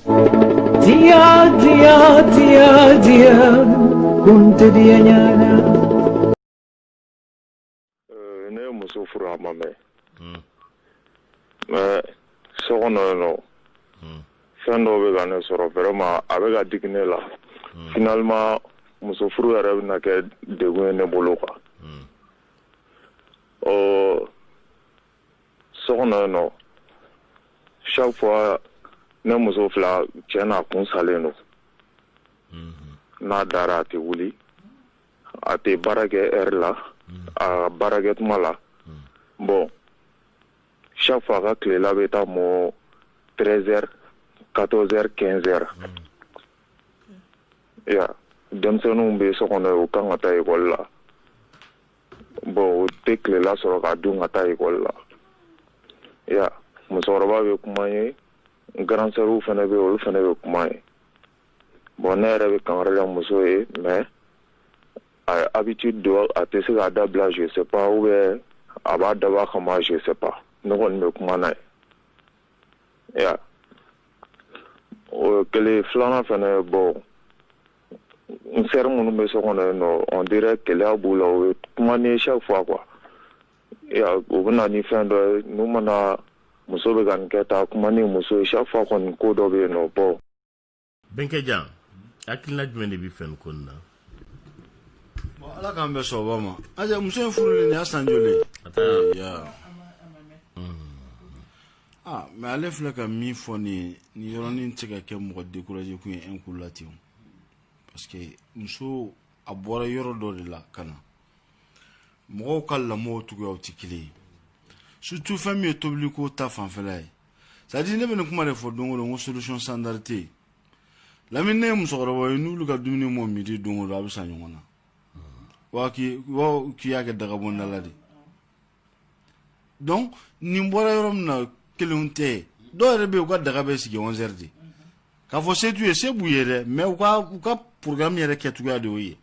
Dia, dia, dia, dia, kunte dia nyana. Eh, ne ye muso furu a ma mɛn hmm. mais so kɔnɔ yen nɔ hmm. fɛn dɔw bɛ ka ne sɔrɔ vraiment a bɛ ka digi ne la hmm. finalement muso furu yɛrɛ bɛna kɛ degun ye ne bolo quoi ɔ so kɔnɔ yen nɔ chaque fois ne muso filɛ tiɲɛ na a kun salen don n'a dara a tɛ wuli a tɛ baara kɛ heure la a ka baara kɛ tuma la bon chaque fois a ka tilela bɛ taa mɔ 13 heures 14 heures 15 heures y a denmisɛnninw bɛ so kɔnɔ yen u kan ka taa ekɔli la bon o tɛ tilela sɔrɔ k'a dun ka taa ekɔli la y a musokɔrɔba bɛ kuma ye grande sœurw fana bɛ olu fana bɛ kuma ye bon ne yɛrɛ bɛ kangari la muso ye mais habitude don a tɛ se k'a dabila je sais pas u bɛ a b'a dabɔ a kama je sais pas ne kɔni bɛ kuma na ye o kelen filanan fana bon n sœur minnu bɛ so kɔnɔ yen nɔ on dirait keleya b'u la o ye kuma ni chaque fois quoi u bɛ na ni fɛn dɔ ye n'u mana muso bɛ ka nin kɛ taa kuma ni muso ye chaque fois kɔni ko dɔ bɛ yen nɔ bon Bɛnkɛ Dia hakilina jumɛn de b'i fɛ nin ko nin na ala k'an bɛn sɔgɔba ma aja muso in furuli nin y'a san joli ye aa mais ale filɛ ka min fɔ nin ye nin yɔrɔnin tɛ ka kɛ mɔgɔ décourager kun ye en ko la ten parce que muso a bɔra yɔrɔ dɔ de la ka na mɔgɔw ka lamɔ cogoyaw tɛ kelen ye surtout fɛn min ye tobiliko ta fanfɛla ye c'est à dire ne bɛ nin kuma de fɔ don o don n ko solution standard tɛ yen lamini ne ye musokɔrɔba ye n'olu ka dumuni mɔ midi don o don a bɛ sa ɲɔgɔn na wa k'i y'a kɛ dagabɔndala de donc nin bɔra yɔrɔ min na kelen tɛ dɔw yɛrɛ bɛ u ka daga bɛ sigi wɛrɛ de k'a fɔ setu ye se b'u ye dɛ mais u ka u ka programme yɛrɛ kɛ cogoya de y'o ye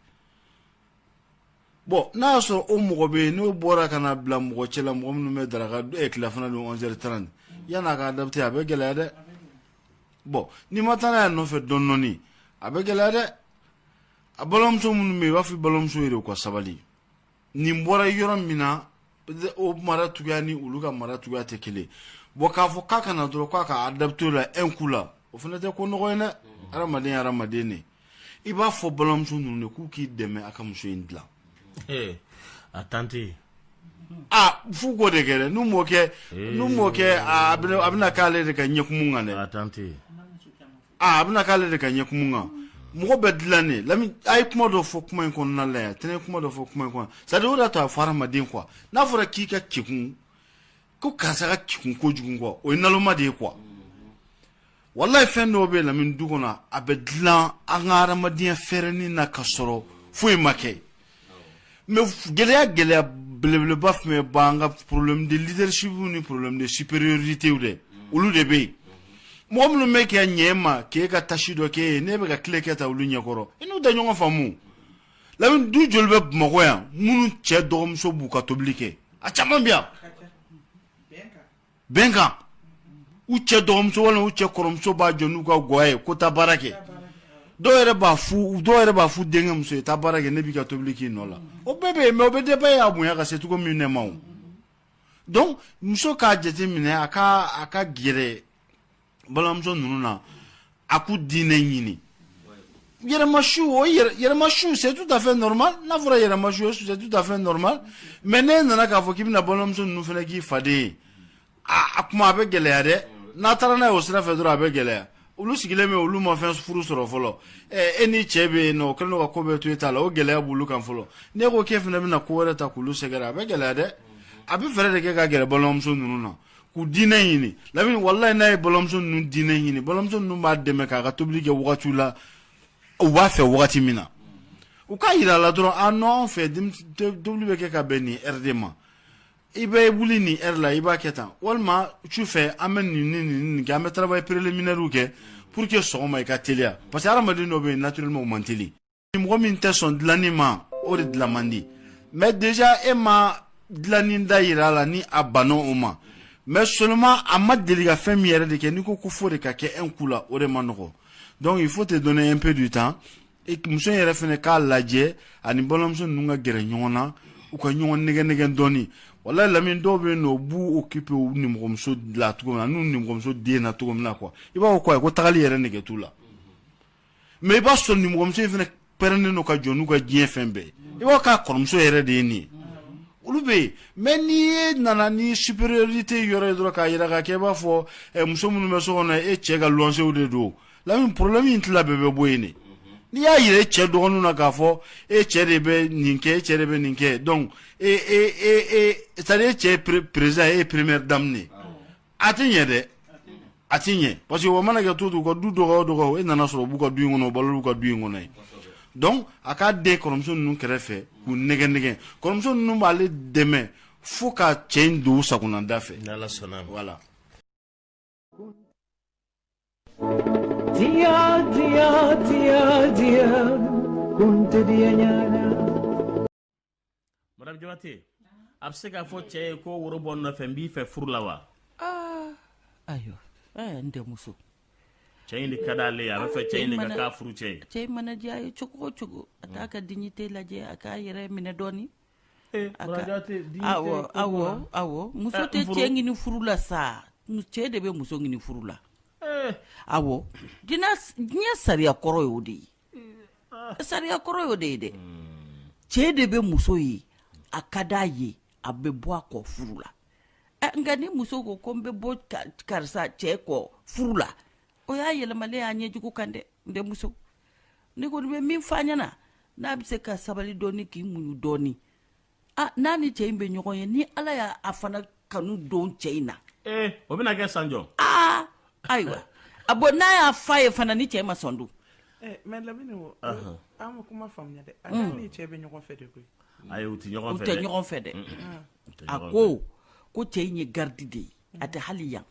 bon n'a y'a sɔrɔ o mɔgɔ bɛ yen n'o bɔra ka na bila mɔgɔ cɛ la mɔgɔ minnu bɛ daraka eh, tilafana dun wɛrɛ tan yanni a ka adapter a bɛ gɛlɛya dɛ bon n'i ma taa n'a y'a nɔfɛ dɔɔni a bɛ gɛlɛya dɛ a balimamuso minnu bɛ yen i b'a fɔ balimamuso ye de u ka sabali nin bɔra yɔrɔ min na o maracogoya ni olu ka maracogoya tɛ kelen bɔn k'a fɔ k'a ka na dɔrɔn k'a ka adapter o la un coup la o fana tɛ ko nɔgɔ ye dɛ adamaden adamaden de i b'a fɔ balimamuso ninnu de k'u k'i dɛmɛ a ka muso in dilan a tante aa fu ko de kɛ n'u m'o kɛ n'u m'o kɛ a bɛna k'ale de ka ɲɛ kumu kan dɛ a tante a bɛna k'ale de ka ɲɛ kumu kan mɔgɔ bɛ dilan de lamini a ye kuma dɔ fɔ kuma in kɔnɔna la yan tɛnɛ kuma dɔ fɔ kuma in kɔnɔ sadi o da to a fɔ hadamaden quoi n'a fɔra k'i ka kegun ko karisa ka kegun kojugu quoi o ye naloma de ye quoi walayi fɛn dɔw bɛ lamini du kɔnɔ a bɛ dilan an ka hadamadenya fɛɛrɛnin na ka sɔrɔ foyi ma kɛ mais gɛlɛya gɛlɛya belebeleba fɛn min b'an kan problème de leadership ni problème de supériorité dɛ mm. olu de bɛ yen mm-hmm. mɔgɔ minnu bɛ kɛ ɲɛ ma k'e ka tâche dɔ k'e ye ne bɛ ka tile kɛ ta olu ɲɛkɔrɔ i n'u da ɲɔgɔn faamu lamini du joli bɛ bamakɔ yan minnu cɛ dɔgɔmuso b'u ka tobili kɛ a caman bɛ yan bɛnkan u cɛ dɔgɔmuso walima u cɛ kɔrɔmuso b'a jɔ n'u ka gwa ye ko taa baara kɛ dɔw yɛrɛ b'a f'u dɔw yɛrɛ b'a f'u denkɛ muso ye taa baara kɛ ne b'i ka tobili k'i nɔ la o bɛɛ bɛ yen mais o bɛ dépend i y'a bonya ka se cogo min de ma o donc muso k'a jate minɛ a ka a ka gɛrɛ balimamuso ninnu na a k'u dinɛ ɲini yɛrɛmajigin o yɛrɛmajigin c'est tout à fait normal n'a fɔra yɛrɛmajigin ye c'est tout à fait normal mais n'e nana k'a fɔ k'i bɛna balimamuso ninnu fana k'i faden ye a tuma a bɛ gɛlɛya dɛ n'a taara n'a ye o sira fɛ dɔrɔn a bɛ gɛlɛya olu sigilen bɛ olu ma fɛn furu sɔrɔ fɔlɔ e ni cɛ bɛ yen non o kɛlen don ka ko bɛɛ to e ta la o gɛlɛya b'olu kan fɔlɔ n'e ko k'e fana bɛna ko wɛrɛ ta k'olu sɛgɛrɛ a bɛ gɛlɛya dɛ a bɛ fɛɛrɛ de kɛ ka gɛrɛ balimamuso ninnu na k'u dinɛ ɲini lamini walayi n'a ye balimamuso ninnu dinɛ ɲini balimamuso ninnu b'a dɛmɛ k'a ka tobili kɛ wagatiw la u b'a fɛ wagati min na u k'a yira a la dɔrɔn ah non anw fɛ tobili bɛ kɛ ka bɛn nin heure de ma i bɛ wuli nin heure la i b'a kɛ tan walima su fɛ an bɛ nin ni nin nin kɛ an bɛ travail préliminaire kɛ pour que sɔgɔma i ka teliya parce que hadamaden dɔ bɛ yen naturellement o man teli mɔgɔ min tɛ sɔn dilanni ma o de dilan man di mais déjà e ma dilanni da yira a la ni a banna o ma mais seulement a ma deli ka fɛn min yɛrɛ de kɛ n'i ko ko fo o de ka kɛ un coup la o de ma nɔgɔ donc il faut te donner un peu du temps e muso in yɛrɛ fɛnɛ k'a lajɛ ani balimamuso ninnu ka gɛrɛ ɲɔgɔn na u ka ɲɔgɔn nɛgɛn nɛgɛn dɔɔni walayi lamini dɔw bɛ yen non u b'u occuper u nimɔgɔmuso la cogo min na n'u nimɔgɔmuso den na cogo min na quoi i b'a fɔ ko ayi ko tagali yɛrɛ nɛgɛ t'u la mɛ i b'a sɔrɔ nimɔgɔmuso in fana pɛrɛnnen don ka jɛn n'u ka diɲɛ fɛn bɛɛ i b'a k'a kɔrɔmuso yɛrɛ de ye nin ye olu bɛ yen mɛ n'e nana ni superiorite yɔrɔ ye dɔrɔn k'a jira k'a kɛ i b'a fɔ eh, muso minnu bɛ so kɔnɔ e cɛ ka lɔnsew de don lamin problème in tila bɛɛ bɛ bɔ yen de n'i y'a jira e cɛ dɔgɔninw na k'a fɔ e cɛ de bɛ nin kɛ e cɛ de bɛ nin kɛ donc e e e e c'est à dire e cɛ ye président ye e ye première dame de ye a tɛ ɲɛ dɛ a tɛ ɲɛ parce que o mana kɛ to to u ka du dɔgɔ o dɔgɔ e nana sɔrɔ u b'u ka du in kɔnɔ u balo b'u ka du in kɔnɔ ye donc a k'a dɛn kɔrɔmuso ninnu kɛrɛfɛ k'u nɛgɛn nɛgɛn kɔrɔmuso ninnu b'ale dɛmɛ fo ka cɛ in don u sagonada fɛ n'ala sɔnna voilà Dia, dia, dia, dia, kun te dia nyana. madame jabate a bɛ se k'a fɔ cɛ ye ko woro bɔ n nɔfɛ n b'i fɛ furu la wa ah, ayiwa eh, n denmuso cɛ in de ka d'ale ye a bɛ fɛ cɛ in de ka k'a furu cɛ ye cɛ in mana diya a ye cogo o cogo a t'a ka dignité lajɛ a k'a yɛrɛ minɛ dɔɔni eh, awɔ awɔ awɔ muso eh, tɛ cɛ ɲini furu la sa cɛ de bɛ muso ɲini furu la awɔ diɲɛ sariya kɔrɔ y'o de ye Sariya kɔrɔ y'o de ye dɛ cɛ de bɛ muso ye a ka di a ye a bɛ bɔ a kɔ furu la nka ni muso ko ko n bɛ bɔ karisa cɛ kɔ furu la o y'a yɛlɛmalen y'a ɲɛjugu kan dɛ n'o tɛ muso ne kɔni bɛ min fɔ a ɲɛna n'a bɛ se ka sabali dɔɔni k'i muɲu dɔɔni ah, n'a ni cɛ in bɛ ɲɔgɔn ye ni ala y'a fana kanu don cɛ in na ee eh, o bɛna kɛ sanjɔ aa ah, ayiwa ah bon n'a y'a fɔ a ye fana ni cɛ in ma sɔn dun eh, mɛ lamini o an ka kuma faamuya dɛ a n'a mm. ni cɛ bɛ ɲɔgɔn fɛ de koyi ayi u tɛ ɲɔgɔn fɛ dɛ u tɛ ɲɔgɔn fɛ dɛ a ko ko cɛ in ye garidi de ye a tɛ hali yan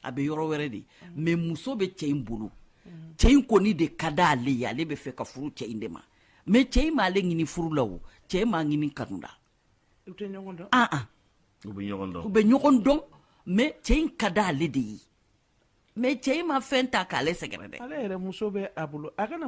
a bɛ yɔrɔ wɛrɛ de mɛ muso bɛ cɛ in bolo cɛ in kɔni de ka di ale ye ale bɛ fɛ ka furu cɛ in de ma mɛ cɛ in m'ale ɲini furu la o cɛ in m'a ɲini kanu la u bɛ ɲɔgɔn dɔn mɛ cɛ in ka di ale de ye mɛ cɛ in ma fɛn ta k'ale sɛgɛrɛ dɛ ale yɛrɛ muso bɛ a bolo a kana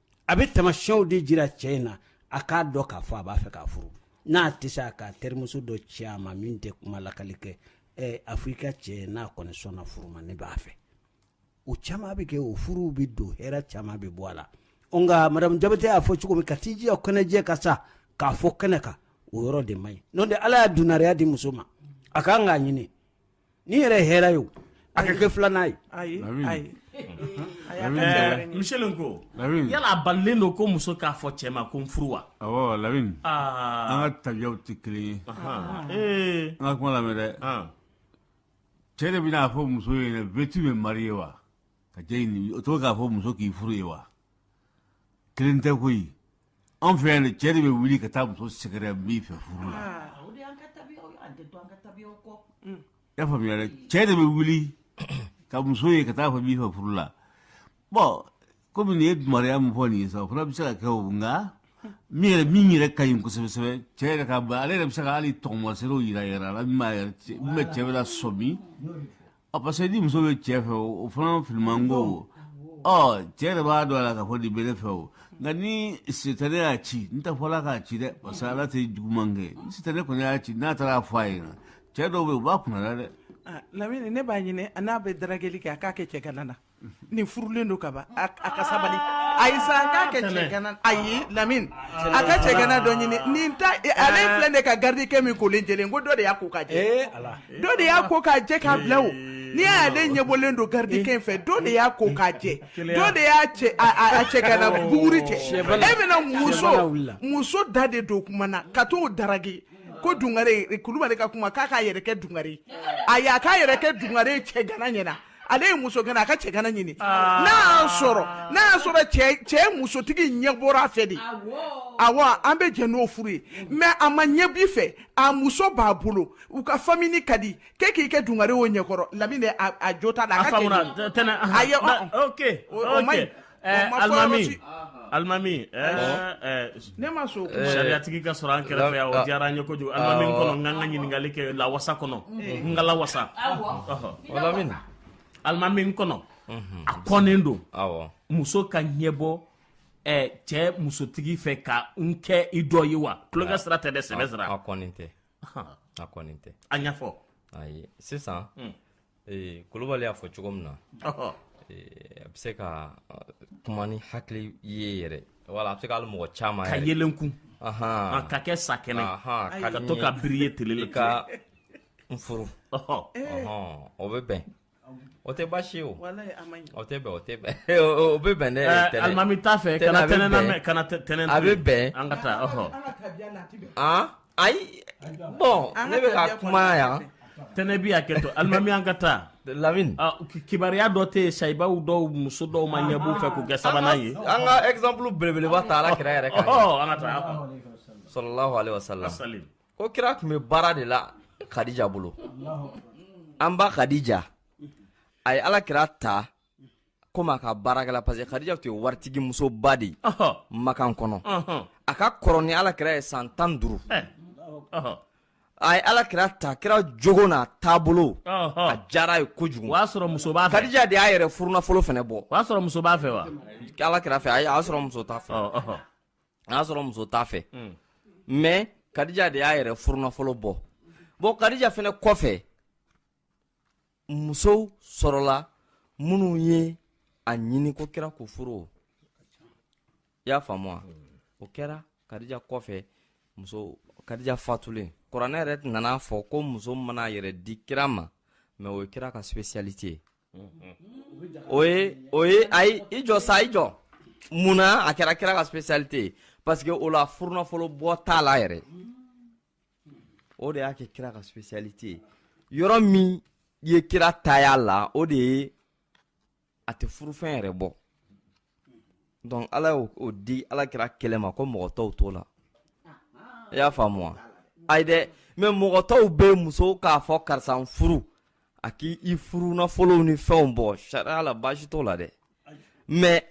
a bɛ tamasiyɛnw de jira cɛ in na a k'a dɔn k'a fɔ a b'a fɛ k'a furu n'a tɛ se a k'a terimuso dɔ ci a ma min tɛ kuma lakali kɛ ɛ a fɔ i ka cɛ n'a kɔni sɔnna furu ma ne b'a fɛ o caman bɛ kɛ o furuw bɛ don hɛrɛ caman bɛ bɔ a la nka madamu jabate y'a fɔ cogo min ka t'i jira kɛnɛjɛ kan sa k'a fɔ kɛnɛ kan o yɔrɔ de man ɲi n'o tɛ ala y'a dunnariya di muso ma a ka kan k'a ɲini ni yɛrɛ hɛrɛ ye a ka kɛ filanan ye ayi ayi misi ko yala balilen don ko muso k'a fɔ cɛ ma ko n furu wa la an ka tabiyaw tɛ kelen ye an ka kuma lamɛn dɛ cɛ de bɛn'a fɔ muso ye veux-tu me marier wa ka to k'a fɔ muso k'i furu ye wa kelen tɛ koyi anw fɛ yan cɛ de bɛ wuli ka taa muso sɛgɛrɛ n b'i fɛ furu la ah, y'a faamuya dɛ cɛ de bɛ wuli ka muso ye ka t'a fɔ n b'i fɛ furu la bɔn komi nin ye dumaraya min fɔ nin ye sa o fana bɛ se ka kɛ o nka min yɛrɛ min yɛrɛ ka ɲi kosɛbɛ kosɛbɛ cɛ yɛrɛ ka ale yɛrɛ bɛ se ka hali taamaseerew yira yɛrɛ la min b'a yɛrɛ min bɛ cɛ bɛ lasɔmi ɔ parce que ni muso bɛ cɛ fɛ o fana filiman ko ɔ cɛ yɛrɛ b'a dɔn a la k'a fɔ nin bɛ ne fɛ o nka ni sitani y'a ci n t'a fɔ ala k'a ci dɛ parce que ala tɛ juguman kɛ ni sitani kɔni y'a ci n'a taara a fɔ a ɲɛna cɛ dɔw bɛ yen u b'a kunna dɛ Ah, lamini ne b'a ɲini a n'a bɛ darageli kɛ a k'a kɛ cɛgana na nin furulen don kaban a ka sabali a ye san k'a kɛ cɛgana a ye lamini a ka cɛgana dɔ ɲini nin ta ale filɛ de ka garidikɛ min kolen jɛlen ko dɔ de y'a ko k'a jɛ dɔ de y'a ko k'a jɛ k'a bila o n'i y'ale ɲɛbɔlen don garidikɛ in fɛ dɔ de y'a ko k'a jɛ dɔ de y'a cɛ a cɛgana buguri cɛ e bɛna muso muso da de don kuma na ka t'o daraki ko dugare kulubali ka kuma k'a k'a yɛrɛ kɛ dugare a y'a k'a yɛrɛ kɛ dugare cɛgana ɲɛna ale ye musogana a ka cɛgana ɲini ah. n'a sɔrɔ n'a sɔrɔ cɛ musotigi ɲɛ bɔra fɛ de awa an bɛ jɛ n'o furu ye mais a ma ɲɛ bi fɛ a muso b'a bolo u ka famille ka di kɛ k'i kɛ dugare o ɲɛkɔrɔ lamini a jo ta la a alimami alimami ne ma sariyatigi ka sɔrɔ an kɛrɛfɛ yan o diyara n ye kojugu alimami kɔnɔ n ka ka ɲininkalikɛla wasa kɔnɔ n kala wasa alimami kɔnɔ a kɔnnen don muso ka ɲɛ bɔ cɛ musotigi fɛ ka n kɛ i dɔ ye wa tulonkɛ sira tɛ dɛ sɛbɛ sira tɛ tɛ a ɲɛfɔ sisan ee kulubali y'a fɔ cogo min na a bɛ se ka kuma ni hakili ye yɛrɛ wala a bɛ se k'ale mɔgɔ caman ka yelen kun ka kɛ sa kɛnɛ ka to ka bi ye tile ka n furu o bɛ bɛn o tɛ baasi o o tɛ o tɛ o bɛ bɛn ne alimami t'a fɛ kana tɛnɛn kana tɛnɛn a bɛ bɛn an ka taa ayi bon ne bɛ ka kuma yan tɛnɛ bi a kɛtɔ alimami an ka taa lamini ah, kibaruya dɔ tɛ yen sahabaw dɔw muso dɔw ma ɲɛb'u fɛ k'u kɛ sabanan ye an ka exemple belebeleba ta ala kira yɛrɛ kan an ka taa sallallahu alaihi wasallam ko kira tun bɛ baara de la khadija bolo an ba khadija a ye ala kira ta komi a ka baarakɛla parce que Khadija tun ye waritigi musoba de ye Makan kɔnɔ a ka kɔrɔ ni Ala kira ye san tan ni duuru eh. a ye Ala kira ta kira jogo n'a taabolo a diyara a ye kojugu o y'a sɔrɔ muso b'a fɛ Khadija de y'a yɛrɛ furunafolo fana bɔ o y'a sɔrɔ muso b'a fɛ wa Ala kira fɛ a y'a sɔrɔ muso t'a fɛ a y'a sɔrɔ muso t'a fɛ hmm. mais Khadija de y'a yɛrɛ furunafolo bɔ bon Khadija fana kɔfɛ musow sɔrɔla minnu ye a ɲini ko kira k'u furu o i y'a faamu wa o kɛra kadija kɔfɛ muso kadija fatulen kuranɛ yɛrɛ nana fɔ ko muso mana a yɛrɛ di kira ma mais o ye kira ka spécialité ye o ye o ye ayi i jɔ sa i jɔ mun na a kɛra kira ka spécialité ye parce que o la furunafolo bɔ t'a la yɛrɛ o de y'a kɛ kira ka spécialité ye yɔrɔ min ye kira ta y'a la o de ye a tɛ furufɛn yɛrɛ bɔ donc ala y'o di ala kira kelen ma ko mɔgɔ tɔw t'o la i y'a faamu wa ayi dɛ mais mɔgɔ tɔw bɛ muso k'a fɔ karisa n furu a k'i i furunafolow ni fɛnw bɔ sariya la baasi t'o la dɛ mais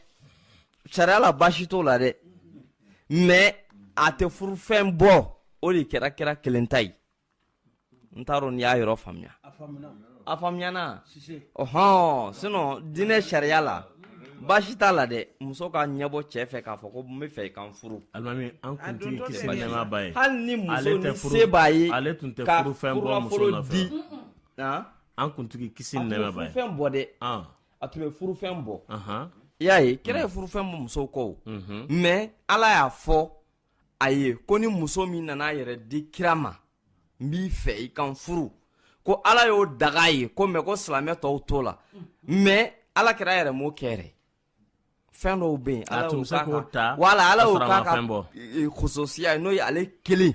sariya la baasi t'o la dɛ mais a tɛ furufɛn bɔ o de kɛra kira kelen ta ye n t'a dɔn n'i y'a yɔrɔ faamuya a faamuyana ɔhɔn sinon diinɛ sariya la baasi t'a la dɛ muso ka ɲɛbɔ cɛ fɛ k'a fɔ ko n b'i fɛ i ka n furu alimami an kuntigi kisi ni nɛɛma b'a ye hali ni muso ale tɛ ni furu- se b'a ye ale tun tɛ ka furufɛn bɔ muso furunafolo nɔfɛ. di an kuntigi kisi a ni tun nɛɛma b'a ye furufɛn bɔ dɛ an a tun bɛ furufɛn bɔ i y'a ye kira ye furufɛn bɔ musow kɔ mais ala y'a fɔ a ye ko ni muso min nana a yɛrɛ di kira ma n b'i fɛ i ka n furu ko ala y'o daga a ye ko mais ko silamɛ tɔw t'o la mais ala kira yɛrɛ m'o kɛ fɛn dɔw bɛ yen ala wala ala y'o k'a ka kususiya n'o ye ale kelen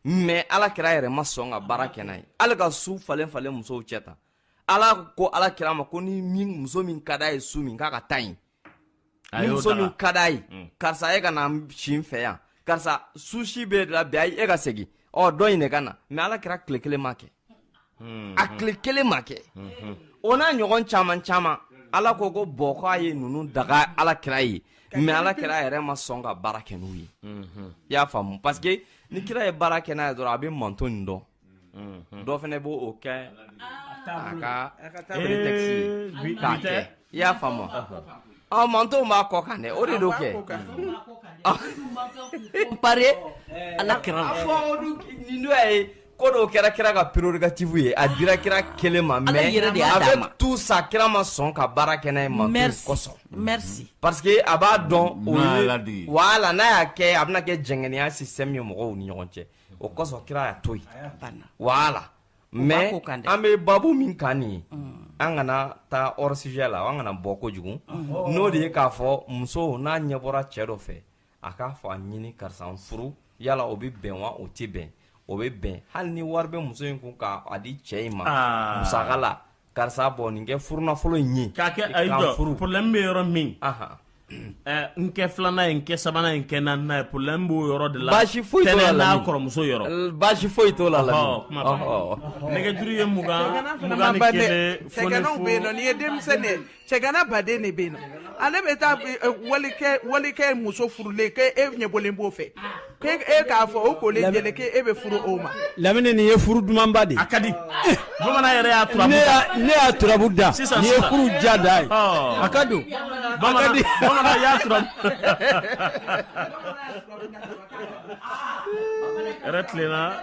mais ala kira yɛrɛ ma sɔn ka baara kɛ n'a ye ala ka su falen falen musow cɛ tan ala ko ala kira ma ko ni muso min ka d'a ye su min k'a ka taa yen ni muso min ka d'a ye mm. karisa e ka na si n fɛ yan karisa su si b'e la bi ayi e ka segin ɔ dɔ in de ka na mais ala kira tile kelen ma kɛ mm-hmm. a tile kelen ma kɛ mm-hmm. o n'a ɲɔgɔn caman caman ala ko ko bon ko a ye ninnu daga ala kira ye mais ala kira yɛrɛ ma sɔn ka baara kɛ n'u ye mm-hmm. i y'a faamu parce que ni kira ye baara kɛ n'a ye dɔrɔn a bɛ manton nin dɔn Mm-hmm. dɔ fana b'o o kɛ a ka prétexte ye k'a kɛ i y'a faamu ɔ mantonw b'a kɔ kan dɛ o de don kɛ pare ala kira la fɔ nin dɔ ye ko dɔw kɛra kira ka prérogative ye a dira kira kelen ma mais avec tout ça kira ma sɔn ka baara kɛ n'a ye mantonw kosɔn merci parce que a b'a dɔn o ye voilà n'a y'a kɛ a bɛna kɛ jɛngɛnnenya système ye mɔgɔw ni ɲɔgɔn cɛ o kɔsɔn kira y'a to yen voilà mais an bɛ babu min kan nin ye an kana taa hors sujet la an kana bɔ kojugu n'o de ye k'a fɔ muso n'a ɲɛ bɔra cɛ dɔ fɛ a k'a fɔ a ɲini karisa n furu yala o bɛ bɛn wa o tɛ bɛn o bɛ bɛn hali ni wari bɛ muso in kun k'a di cɛ in ma musaka la karisa bɔ nin kɛ furu nafolo in ye k'a kɛ ayi jɔ furu problème bɛ yɔrɔ min n kɛ filanan ye n kɛ sabanan ye n kɛ naaninan ye problème b'o yɔrɔ de la baasi foyi t'o la n'a kɔrɔmuso yɔrɔ baasi foyi t'o la nɛgɛjuru ye mugan mugan ni kelen foni fo sɛgɛnw bɛ yen nɔ n'i ye denmisɛnnin ye cɛgana baden de bɛ na ale bɛ taa eh, eh, walikɛ walikɛ muso furulen k'e ɲɛ bɔlen b'o fɛ k'e k'a fɔ o kolen jɛlen k'e bɛ furu o ma lamini nin ye furu dumanba de ye a ka di eh, bamanan yɛrɛ y'a turabu da ne y'a turabu da nin ye furu ja da ye oh. a ka don bamanan bamanan y'a turabu yɛrɛ tilenna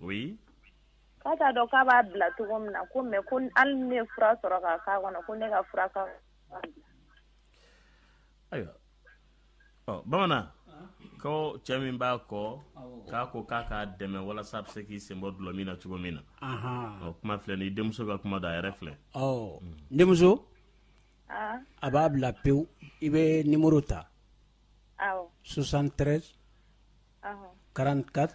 oui k'a t'a dɔn k'a b'a bila cogo min na ko mais ko hali ni ne ye fura sɔrɔ k'a k'a kɔnɔ ko ne ka fura ka ayiwa ɔ bamanan ko cɛ min b'a kɔ k'a ko k'a k'a dɛmɛ walasa a bɛ se k'i sen bɔ dulɔmin na cogo min na ɔ kuma filɛ ni denmuso ka kuma don a yɛrɛ filɛ ɔ denmuso a b'a bila pewu i bɛ nimoro ta 73 44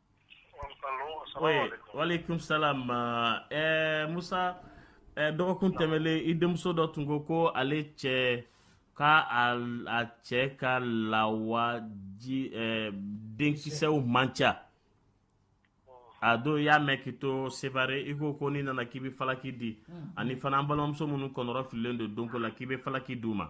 waleykum salam ɛɛ musa ɛɛ dɔgɔkun tɛmɛlen i denmuso dɔ tun ko ko ale cɛ ka a a cɛ ka lawaji ɛɛ denkisɛw man ca a don i y'a mɛn k'i to sevare i ko ko n'i nana k'i bɛ falaki di ani fana an balimamuso minnu kɔnɔrɔfililen don denko la k'i bɛ falaki d'u ma.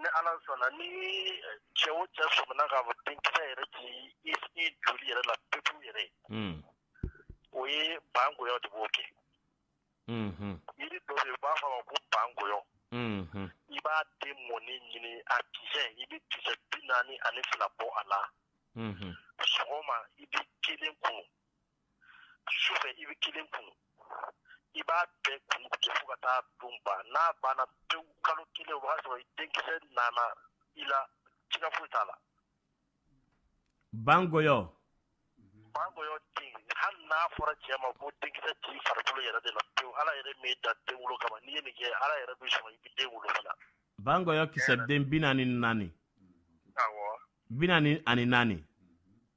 Ni ala sɔnna ni cɛ o cɛ sɔmina k'a fɔ denkisɛ yɛrɛ t'i joli yɛrɛ la pewu yɛrɛ o ye bangoyɔ de b'o kɛ jiri dɔ i b'a fɔ a ma ko bangoyɔ i b'a den mɔnen ɲini a kisɛ i bɛ kisɛ bi naani ani fila bɔ a la sɔgɔma i bɛ kelen kunu sufɛ i bɛ kelen kunu i b'a bɛɛ kunu kɛ fo ka taa don ban n'a banna pewu kalo kelen o b'a sɔrɔ i denkisɛ nana i la siga foyi t'a la bangoyɔ bangoyɔ den hali n'a fɔra cɛ ma ko denkisɛ t'i farikolo yɛrɛ de la pewu ala yɛrɛ m'i da den wolo kama n'i ye nin kɛ ala yɛrɛ bɛ sɔn i bɛ den wolo fana bangoyɔ kisɛ den bi naani ni naani awɔ bi naani ani naani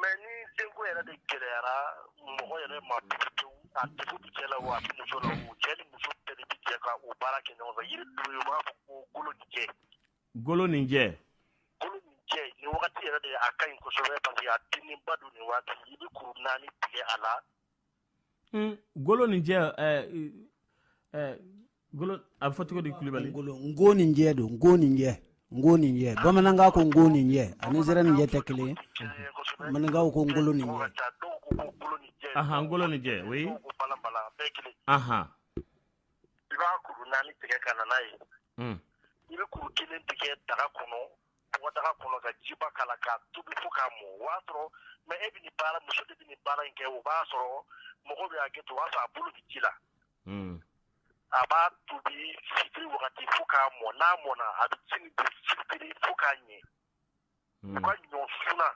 mɛ ni denko yɛrɛ de gɛlɛyara mɔgɔ yɛrɛ ma cɛ la wa muso la o cɛ ni muso bɛ jɛ ka o baara kɛ ɲɔgɔn fɛ yiri dɔ b'a fɔ ko goloninjɛ goloninjɛ goloninjɛ nin wagati yɛrɛ de a ka ɲi kosɛbɛ paseke a dennen ba don nin waati i bɛ kuru naani tigɛ a la goloninjɛ a bɛ fɔ cogo di kulubali ngoninjɛ don ngoninjɛ ngoninjɛ bamanankan ko ngoninjɛ a ni zɛrɛninjɛ tɛ kelen ye maninkaw ko ngoloninjɛ ahan ngoloninjɛ o ye ahan i b'a kuru naani tigɛ ka na n'a ye hmm. i bɛ kuru kelen de kɛ daga kɔnɔ bɔgɔdaga kɔnɔ ka jiba k'a la k'a tobi fo k'a mɔ o b'a sɔrɔ mɛ e bɛ nin baara muso de bɛ nin baara in kɛ o b'a sɔrɔ mɔgɔ bɛ hakɛ to o b'a sɔrɔ a bolo bɛ ji la a b'a tobi wagati fo k'a mɔ n'a mɔna a bɛ ji fo k'a ɲɛ u ka ɲɔ suna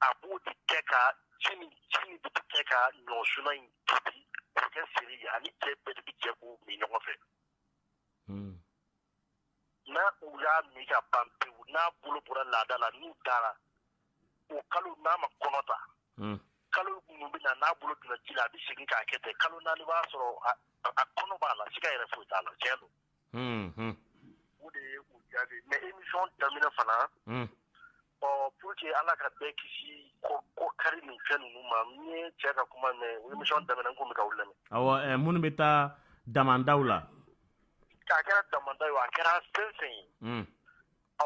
a b'o de kɛ ka ji kɛ ka ɲɔ suna in tobi k'o kɛ seri a ni cɛ bɛɛ bɛ jɛ k'o min ɲɔgɔn fɛ n'u y'a min ka ban pewu n'a bolo bɔra laada la n'u dara o kalo n'a ma kɔnɔ ta hmm. kalo minnu bɛ na n'a bolo donna ji la a bɛ segin k'a kɛ ten kalo naani b'a sɔrɔ a kɔnɔ b'a la siga yɛrɛ foyi t'a la tiɲɛ don hmm, hmm. o de ye o jaabi mɛ émission daminɛ fana ɔ pour que ala ka bɛɛ kisi kɔ kari ni fɛn ninnu ma n ye cɛ ka kuma mɛn o émission daminɛ n tun bɛ ka aw lamɛn awɔ eh, minnu bɛ taa damandaw la a kɛra damanda ye o, a kɛra fɛn fɛn ye Mm, ɔ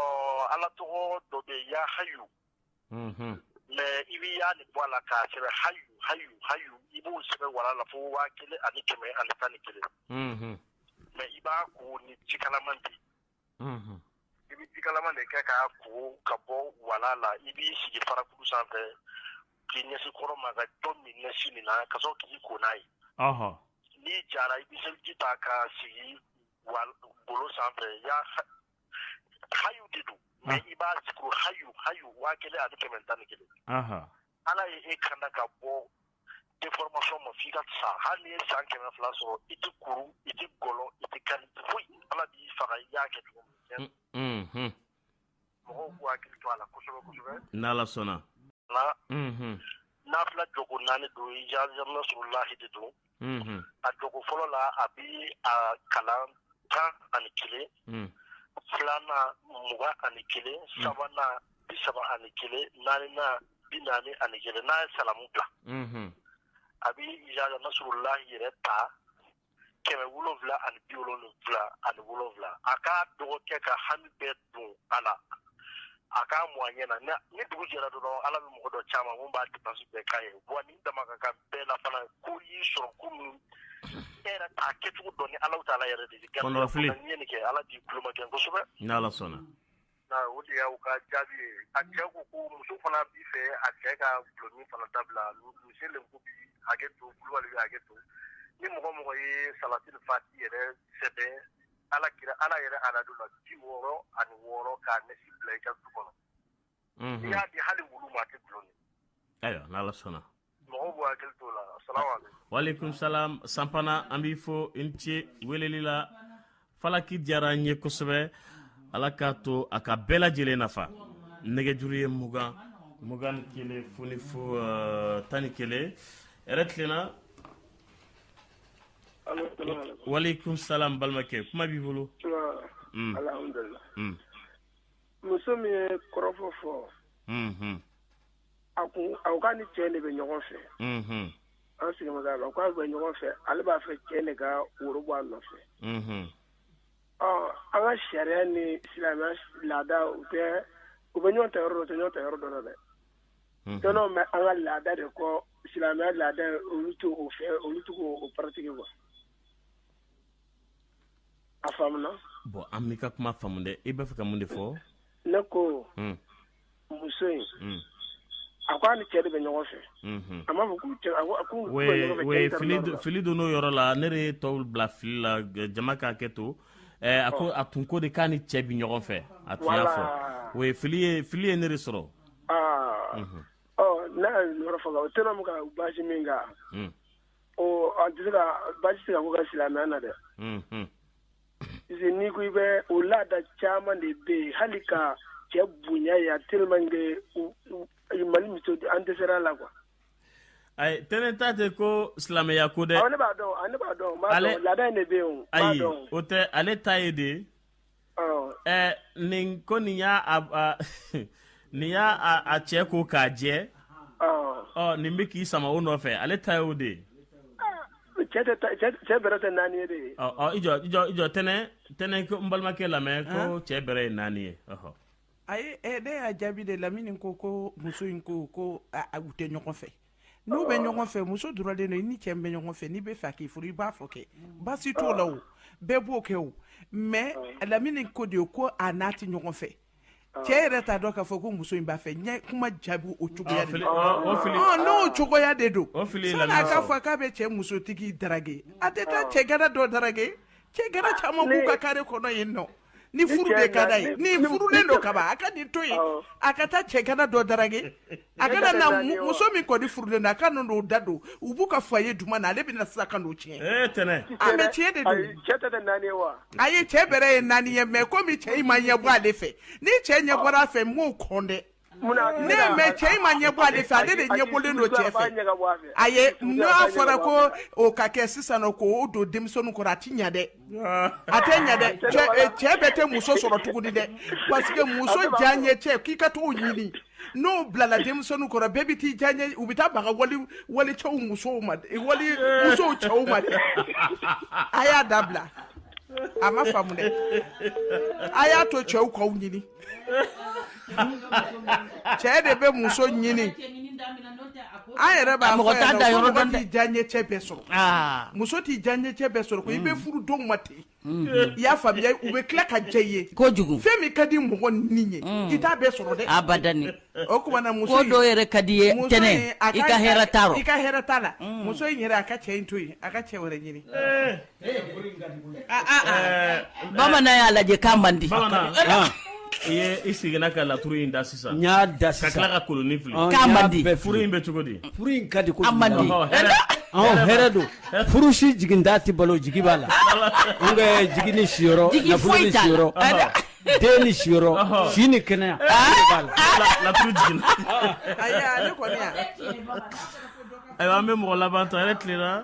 ala tɔgɔ dɔ bɛ yen, ya hayu mhm. mɛ i bɛ ya nin bɔ a la k'a sɛbɛn hayu hayu hayu i b'o sɛbɛn walaa la fo waa kelen ani kɛmɛ ani tan ni kelen Mhm. mɛ i b'a ko ni jikalaman di i bɛ ji kalaman de kɛ k'a ko ka bɔ walaa la i b'i sigi farakuru sanfɛ k'i ɲɛsi kɔrɔn ma ka dɔ min nasi in na ka sɔrɔ k'i ko n'a ye n'i jara i bɛ seliji ta ka sigi golo sanfɛ yaa hayu de don mɛ i b'a sigi hayu hayu waa kelen ani kɛmɛ tan ni kelen ala ye e kanda ka bɔ déformation ma f'i ka sa hali n'i ye san kɛmɛ fila sɔrɔ i tɛ kuru i tɛ gɔlɔ i tɛ kɛ foyi ala b'i faga i y'a kɛ cogo mɔgɔw k'u hakili to a la kosɛbɛ kosɛbɛ n'ala sɔnna nafila jɔko naani don izajaa nasurulahi de don a jɔko fɔlɔ la a bɛ a kalan tan ani kelen filanan mugan ani kelen sabanan bi saba ani kelen naaninan bi naani ani kelen n'a ye salamu bila a bɛ izajaa nasurulahi yɛrɛ ta kɛmɛ wolonwula ani bi wolonwula ani wolonwula a ka duga kɛ k'a hami bɛɛ don a la a k'a mu a ɲɛ na ni dugu jɛra dɔrɔn ala bɛ mɔgɔ dɔ c'a ma min b'a dépense bɛɛ k'a ye wa ni dama ka ka bɛɛ la fana ko y'i sɔrɔ ko minnu e yɛrɛ t'a kɛcogo dɔn ni alahu taala yɛrɛ de kɛ ala k'i kulomajɛ kosɛbɛ sɔnna O de y'aw ka jaabi ye a cɛ ko ko muso fana b'a fɛ a cɛ ka dɔlɔmin fana dabila misi le ko bi hakɛ to kulubali hakɛ to ni mɔgɔ mɔgɔ ye salatili fati yɛrɛ sɛbɛn ala kira ala yɛrɛ adadu la bi wɔɔrɔ ani wɔɔrɔ ka nasi bila i ka du kɔnɔ n'i y'a di hali wulu ma a tɛ dɔlɔ min ayiwa ala sɔnna waleyikum salamu sanfana an b'i fo i ni ce weleli la falaki diyara an ye kosɛbɛ ala k'a to a ka bɛɛ lajɛlen nafa nɛgɛjuru ye mugan mugan ni kelen fu ni fu uh, tan ni kelen yɛrɛ tilenna waleyikum salamu balimakɛ kuma b'i bolo mm. mm. muso min ye kɔrɔfɔ fɔ mm-hmm. A ko awɔ k'a ni cɛ de bɛ ɲɔgɔn fɛ an sigi k' bɛ ɲɔgɔn fɛ ale b'a fɛ cɛ nin ka woro bɔ a nɔfɛ an ka sariya ni silamɛya laada u tɛ u bɛ ɲɔgɔn ta yɔrɔ dɔ u tɛ ɲɔgɔn ta yɔrɔ dɔ la dɛ t bɛ an ka laada de kɔ silamɛya laada olu t'o fɛ olu t'o pratiquer wa a bɔn an ka kuma faamu dɛ i b'a fɛ ka mun de fɔ ne ko muso in a ko a ni cɛ de bɛ ɲɔgɔn fɛ a b'a fɔ fili don nin yɔrɔ la ne de ye tɔw bila fili la jama ka hakɛ to a ko a tun ko de k'a ni cɛ bɛ ɲɔgɔn fɛ a tun y'a fɔ o ye fili fili ye ne de sɔrɔ n'a yɔrɔ faga o tɛna ka basi min kan a basi ka silamɛya na dɛ ni ko i bɛ o laada caman de bɛ yen hali ka cɛ bonya ye a tellement que Mali musow an dɛsɛra a la quoi ayi tɛnɛ ta tɛ ko silamɛya ko dɛ, awɔ ne b'a dɔn ne b'a dɔn, ale laada in de bɛ yen, ayi o tɛ ale ta ye de, ɔ, ɛ nin ko nin y'a a nin y'a a cɛ ko k'a jɛ ɔ nin bɛ k'i sama o nɔfɛ ale ta ye o de ye cɛ bɛrɛ tɛ naani ye de ye i jɔ i jɔ i jɔ tɛnɛ tɛnɛ n balimakɛ lamɛn ko cɛ bɛrɛ ye naani ye ayi ne y'a jaabi de lamini ko ko muso in ko ko u tɛ ɲɔgɔn fɛ n'u bɛ ɲɔgɔn fɛ muso dɔrɔn de don i ni cɛ bɛ ɲɔgɔn fɛ n'i bɛ fɛ k'i furu i b'a fɔ kɛ baasi t'o la o bɛɛ b'o kɛ o mɛ lamini ko de ye ko a n'a tɛ ɲɔgɔn fɛ cɛ yɛrɛ t'a dɔn k'a fɔ ko muso in b'a fɛ n ye kuma jaabi o cogoya de la. Ah, o fili- Ɔn, n'o cogoya de don O fili ye sani a lamɛn k'a sɔrɔ. fɔ k'a bɛ cɛ musotigi darage a tɛ taa cɛgana dɔ darage cɛgana caman b'u ka kare kɔnɔ yen nɔ ni furu cɛ de ka d'a ye na- ni- ni furulen ni- don kaban a ka nin to yen Awɔ. a ka taa cɛgana dɔ darage a kana na muso min kɔni furulen don a ka ninnu da don u b'u ka foyer duman na ale bɛna sisan ka n'o tiɲɛ eh, a mɛn tiɲɛ de don a ye cɛ bɛrɛ ye naani ye mɛ komi cɛ in ma ɲɛbɔ ale fɛ ni cɛ ɲɛbɔra a fɛ n m'o kɔ dɛ ne mɛ cɛ in ma ɲɛbɔ ale fɛ ale de ɲɛbɔlen don cɛ fɛ a ye n'a fɔra ko o ka kɛ sisan ko o don denmisɛnninw kɔrɔ a ti ɲa dɛ a tɛ ɲɛ dɛ cɛ eh, cɛ bɛɛ tɛ muso sɔrɔ tuguni dɛ parce que muso diyaɲɛcɛ k'i ka t'o ɲini n'o bilala denmisɛnninw kɔrɔ bɛɛ bɛ t'i diyaɲɛ u bɛ taa baga wali wali cɛw musow ma dɛ, wali musow cɛw ma dɛ a y'a dabila a ma faamu dɛ a y'a to cɛw k'aw ɲini cɛ de bɛ muso ɲini an yɛrɛ b'a mɔgɔ t'a da yɔrɔ dɔn dɛ diyaɲɛcɛ bɛɛ sɔrɔ muso t'i diyaɲɛcɛ bɛɛ sɔrɔ ko i bɛ mm. furu denw ma ten mm. i y'a faamuya u bɛ tila ka diya i ye kojugu fɛn min ka di mɔgɔnin ye mm. i t'a bɛɛ sɔrɔ dɛ abadani o tuma na muso ko dɔw yɛrɛ ka di i ye tɛnɛ i ka hɛrɛ t'a rɔ i ka hɛrɛ t'a la muso in yɛrɛ a ka cɛ in to yen a ka cɛ wɛrɛ ɲini eh. Bamanan y'a lajɛ ka man di i seginna ka laturu in da sisan y'a da ka tila ka kolonin fili in bɛ cogo di don furu si jigi da tɛ balo jigi b'a la n jigi ni si den ni si si ni kɛnɛya ayiwa an bɛ mɔgɔ labanantɔ yɛrɛ tilenla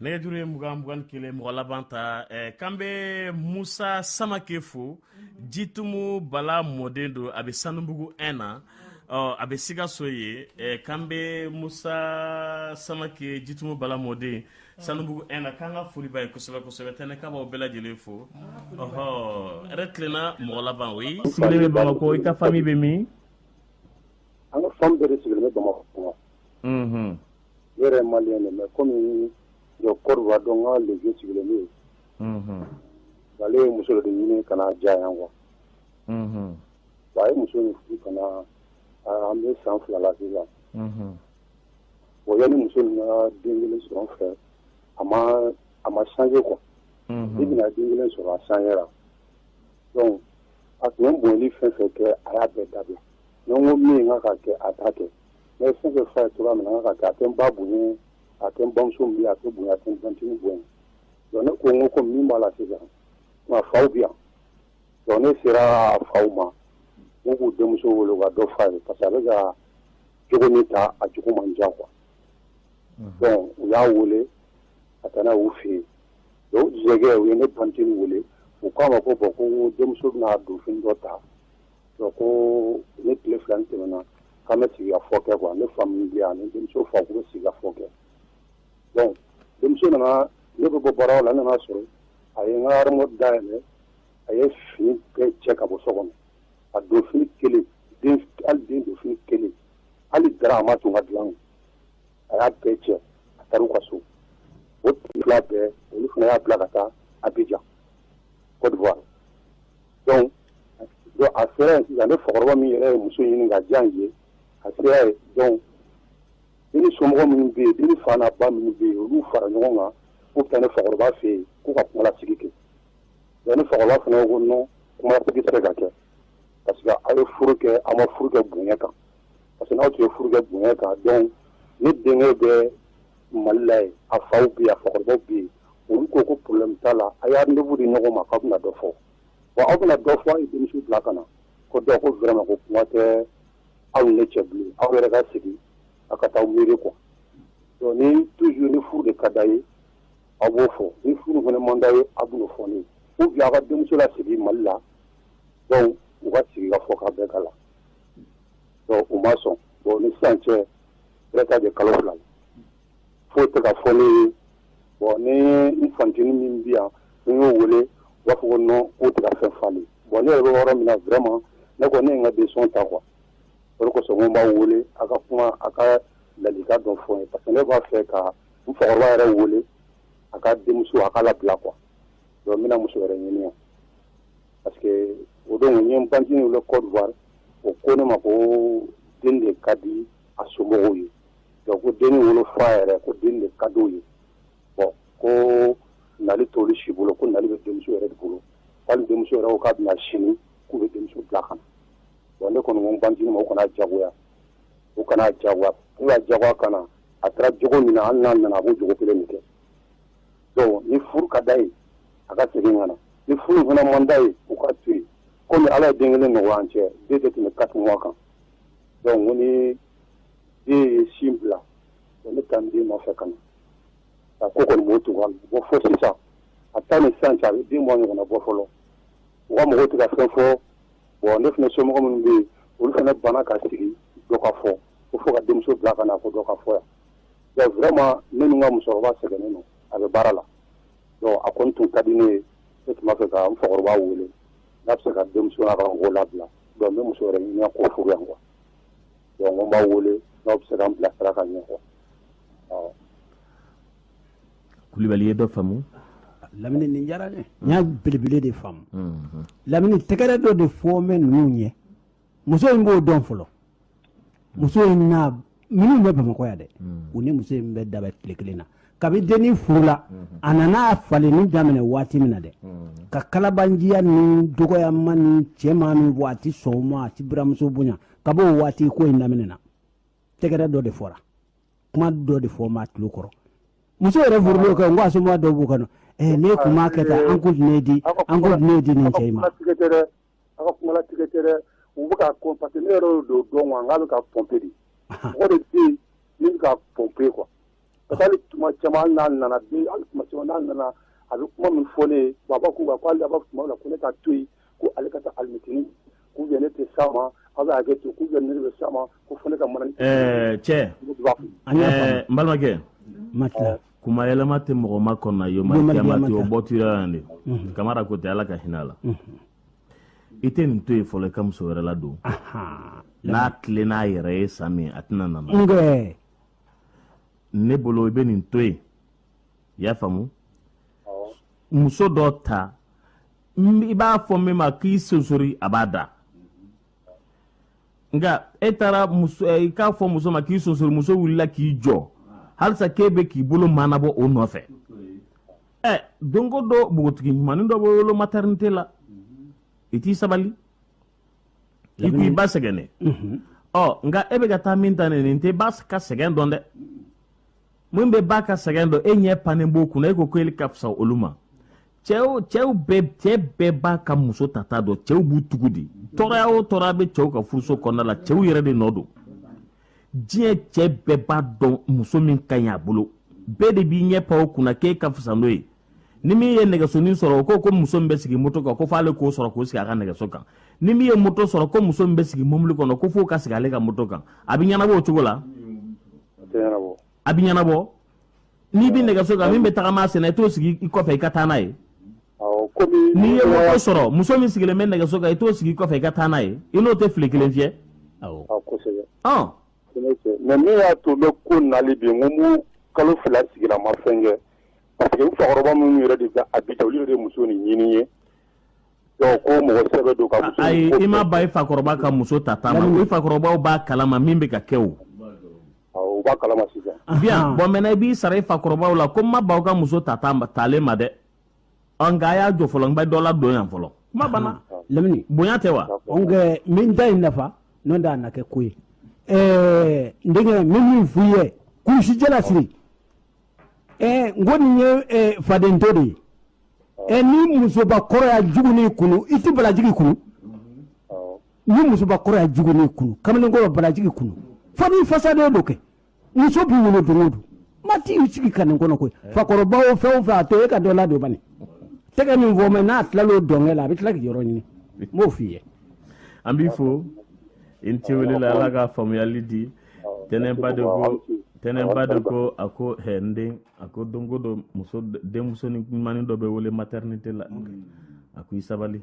nɛgɛjuru ye mugan mugan ni kelen mɔgɔ laban ta eh, k'an bɛ musa samake fo jitumu bala mɔden don a bɛ sanubugu 1 na ɔ a bɛ sikaso yen eh, k'an bɛ musa samake jitumu bala mɔden sanubugu 1 na k'an ka foli b'a ye kosɛbɛ kosɛbɛ tɛnɛ k'a b'aw bɛɛ lajɛlen fo ɔhɔ hɛrɛ tilenna mɔgɔ laban o ye sigilen bɛ bamakɔ i ka fami bɛ min an ka fami bɛɛ de sigilen bɛ bamakɔ ne yɛrɛ ye maliyɛn de ye mais comme n bɛ Cote d'Ivoire donc n ka le vieux sigilen bɛ yen, unhun, ale ye muso dɔ de ɲini ka na diya yan quoi, unhun, bon a ye muso in furu ka na an bɛ san fila la sisan, unhun, bon yanni muso in ka den kelen sɔrɔ n fɛ a ma a ma changer quoi, unhun, depuis a ye den kelen sɔrɔ a changé ra donc a tun bɛ n bonyali fɛn o fɛn kɛ a y'a bɛɛ dabila donc n ko min ka kan ka kɛ a t'a kɛ mais fɛn fɛn fɛn tora min na ka kɛ a tɛ n ba bonya a tɛ n bamuso min a tɛ bonya a tɛ n tantini bonya donc ne ko n ko ko min b'a la sisan a faw bɛ yan donc ne sera a faw ma u k'u denmuso wele u ka dɔ f'a ye parce que a bɛ ka jogo min ta a jogo ma ɲa quoi donc u y'a wele ka taa n'a ye u fɛ yen donc u yɛrɛ u ye ne tantini wele u k'a ma ko bon ko denmuso bɛna don fini dɔ ta Ko ko ni tile fila tɛmɛna k'an bɛ sigi ka fɔ kɛ quoi ne fa min bɛ yan ni denmuso fa k'u bɛ sigi ka fɔ kɛ bon denmuso nana ne bɛ bɔ baara la n nan'a sɔrɔ a ye n ka armoire da yɛlɛ a ye fini bɛɛ cɛ ka bɔ so kɔnɔ a don fini kelen hali den don fini kelen hali dara a ma to n ka dilan a y'a bɛɛ cɛ a taara u ka so o tugula bɛɛ olu fana y'a bila ka taa abijan cote d'ivoire donc donc a sera yen sisan ne fakɔrɔba min yɛrɛ ye muso ɲini ka diya ye a sera yen donc dennin somɔgɔ minnu bɛ yen dennin fa n'a ba minnu bɛ yen olu fara ɲɔgɔn kan k'u bɛ taa ne fakɔrɔba fɛ yen k'u ka kumalasigi kɛ donc ne fakɔrɔba fana ko non kumalasigi tɛ se ka kɛ parce que aw ye furu kɛ aw ma furu kɛ bonya kan parce que n'aw tun ye furu kɛ bonya kan donc ne denkɛ bɛ mali la yen a faw bɛ yen a fakɔrɔbaw bɛ yen olu ko ko problème t'a la aw ye rendez-vous di ɲɔgɔn ma k'aw bɛna dɔ fɔ wa aw bɛna dɔ fɔ aw ye denmuso bila ka na ko dɔ ko vraiment ko kuma tɛ aw ni ne cɛ bilen aw yɛrɛ ka sigi aw ka taa miiri quoi donc ni toujours ni furu de ka d'aw ye aw b'o fɔ ni furu fana man d'aw ye aw bɛn'o fɔ ne ye ou bien aw ka denmuso lasegin mali la donc u ka sigi ka fɔ ka bɛɛ k'a la u ma sɔn bon ni sisan cɛ bɛ taa deux kalo fila la foyi tɛ ka fɔ ne ye bon ni n fantinin min bi yan n y'o wele u b'a fɔ ko non k'o tɛ ka fɛn falen bon ne yɛrɛ bɛ yɔrɔ min na vraiment ne kɔni ne ye n ka décision ta quoi o kosɔn n b'a wele a ka kuma a ka laadilikan dɔ fɔ n ye parce que ne b'a fɛ ka n fakɔrɔba yɛrɛ wele a ka denmuso a ka labila quoi donc n bɛna muso wɛrɛ ɲini yan parce que o don n ye n bantini wele Cote d'Ivoire o ko ne ma ko denni de ka di a somɔgɔw ye donc ko denni wolofa yɛrɛ ko denni de ka d'o ye bon ko nali t'olu si bolo ko nali bɛ denmuso yɛrɛ de bolo hali denmuso yɛrɛ ko k'a bɛna sini k'u bɛ denmuso bila ka na bon ne kɔni ko n bantini ma u kana jagoya u kana jagoya n'u y'a jagoya ka na a kɛra jogo min na hali n'a nana a b'o jogo kelen de kɛ donc ni furu ka d'a ye a ka segin ka na ni furu fana man d'a ye u ka to yen komi ala ye den kelen nɔgɔya an cɛ den tɛ tɛmɛ quatre mois kan donc ko ni den ye sin bila ko ne taa den nɔfɛ ka na a ko kɔni b'o tugu a la bon fo sisan a taa ni sisan cɛ a bɛ deux mois ɲɔgɔnna bɔ fɔlɔ u ka mɔgɔw tɛ ka fɛn fɔ bon ne fana somɔgɔ minnu bɛ yen olu fana banna ka sigi dɔ ka fɔ ko fo ka denmuso bila ka na ko dɔ ka fɔ yan vraiment ne ni ka musokɔrɔba sɛgɛnnen don a bɛ baara la donc a kɔni tun ka di ne ye ne tun b'a fɛ ka n fakɔrɔba wele n'a bɛ se ka denmuso n'a ka mɔgɔw labila donc n bɛ muso wɛrɛ ɲini k'o furu yan quoi donc n b'aw wele n'aw bɛ se k'an bilasira ka ɲɛ quoi awɔ. kulubali ye dɔ faamu. lamini nin diyara n ye n y'a belebele de faamu lamini tɛgɛrɛ dɔ de fɔlen bɛ ninnu ɲɛ muso in b'o dɔn fɔlɔ muso in na minnu bɛ bamakɔ yan dɛ hmm. u ni muso in bɛ dabɛ tile kelen na kabi denni furula hmm. a nana falenni daminɛ waati min na dɛ hmm. ka kalabanciya ni dɔgɔyama ni cɛma min bɔ a ti sɔn ma a ti buranmuso bonya kab'o waati ko in daminɛna tɛgɛrɛ dɔ de fɔra kuma dɔ de fɔra tulo kɔrɔ muso yɛrɛ furulen kɛ n ko a somɔgɔ dɔw b'u kɔnɔ eh, ne kun b'a kɛ tan an ko di ne di an ko di ne di nin cɛ in ma aw ka kuma latigɛ tɛ dɛ, u bɛ k'a kɔn parce que ne yɛrɛ y'o dɔw dɔn quoi n k'a bɛ k'a pomper de, ahan, mɔgɔ de bɛ yen min bɛ k'a pomper quoi parce que hali tuma caman hali n'a nana bi hali tuma caman n'a nana a bɛ kuma min fɔ ne ye bon a b'a k'u kan ko hali a b'a fɔ tuma dɔ la ko ne ka to yen ko ale ka taa alimɛtini ou bien ne tɛ s'a ma aw bɛ hakɛ to ou bien ne de bɛ s'a ma ko fo ne ka mana ɛɛ cɛ, ne de b'a fɔ ɛɛ n balimakɛ, Matla kuma yɛlɛma tɛ mɔgɔ ma kɔnɔna yomakiyama tɛ o bɔ tuyira yan de mhm. kamara ko tɛ ala ka hinɛ la mhm. i tɛ nin to yen fɔlɔ i ka muso wɛrɛ ladon n'a tile n'a yɛrɛ ye san min a tɛna nana ne bolo i bɛ nin to yen i y'a faamu muso dɔ ta i b'a fɔ min ma k'i sonsori a b'a da nka e taara muso eh, i k'a fɔ muso ma k'i sonsori muso wulila k'i jɔ halisa k'e bɛ k'i bolo maanabɔ o nɔfɛ ɛ eh, don go don npogotigi ɲumanin dɔ bɛ wolo matɛrinite la i t'i sabali i ko i ba sɛgɛnnen ɔ nka e bɛ ka taa min ta nin nin tɛ ba ka sɛgɛn dɔn dɛ min bɛ ba ka sɛgɛn dɔn e ɲɛ pannen b'o kunna e ko ko e ka fisa olu ma cɛw cɛw bɛɛ cɛ bɛɛ b'a ka muso tata dɔn cɛw b'u tugu de tɔɔrɔya o tɔɔrɔya bɛ cɛw ka furuso kɔnɔna la cɛw yɛrɛ de nɔ don diɲɛ cɛ bɛɛ b'a dɔn muso min ka ɲi a bolo bɛɛ de b'i ɲɛ pan o kunna k'e ka fisa n'o ye ni min ye nɛgɛsonin sɔrɔ o ko ko muso min bɛ sigi moto kan ko f'ale k'o sɔrɔ k'o sigi a ka nɛgɛso kan ni min ye moto sɔrɔ ko muso min bɛ sigi mobili kɔnɔ ko f'o ka sigi ale ka moto kan a bɛ ɲɛnabɔ o cogo la a bɛ ɲɛnabɔ n'i bɛ nɛgɛso kan min bɛ taama sen na i t'o sigi i kɔfɛ i ka taa n'a ye n'i ye moto sɔrɔ muso min sigilen bɛ nɛgɛso kan i t'o sigi kɔfɛ i ka taa n'a ye i n'o tɛ file kelen fiyɛ mais min y'a to bɛ ko nali bi n ko kalo fila sigira ma fɛn kɛ parce que fakɔrɔba minnu yɛrɛ de abijan olu de muso ni ɲinin ye ayi i ma ba i fakɔrɔba ka muso tata min i fakɔrɔbaw b'a kalama min bɛ ka kɛ o bien bon maintenant i b'i sara i fakɔrɔbaw la ko n ma baw ka muso ta taalen ma dɛ ɔ nka a y'a jɔ fɔlɔ n bɛ dɔ ladon yan fɔlɔ kuma banna lamini bonya tɛ wa nka min da in nafa n'o tɛ a na kɛ ko ye ɛɛ n denkɛ n bɛ min f'i ye kurusijala siri ɛɛ n ko nin ye faden to de ye ɛ ni musobakɔrɔ ye jugunin kunu i tɛ balajigi kunu ni musobakɔrɔ ye jugunin kunu kamalen kɔrɔ balajigi kunu fo n'i fasaden don kɛ muso bɛ wolo don o don maa t'i sigi ka nin kɔnɔ koyi fakɔrɔba o fɛn o fɛn a to e ka dɔ ladon bani tɛgɛ min fɔ mɛ n'a tilala o dɔnkɛ la a bɛ tila k'i yɔrɔ ɲini n b'o f'i ye an b'i fo i ni ce wele la ala ka faamuyali di tɛnɛnba de ko tɛnɛnba de ko a ko hɛ n den a ko don go don muso denmusonin ɲumanin dɔ bɛ wolo maternité la a ko i sabali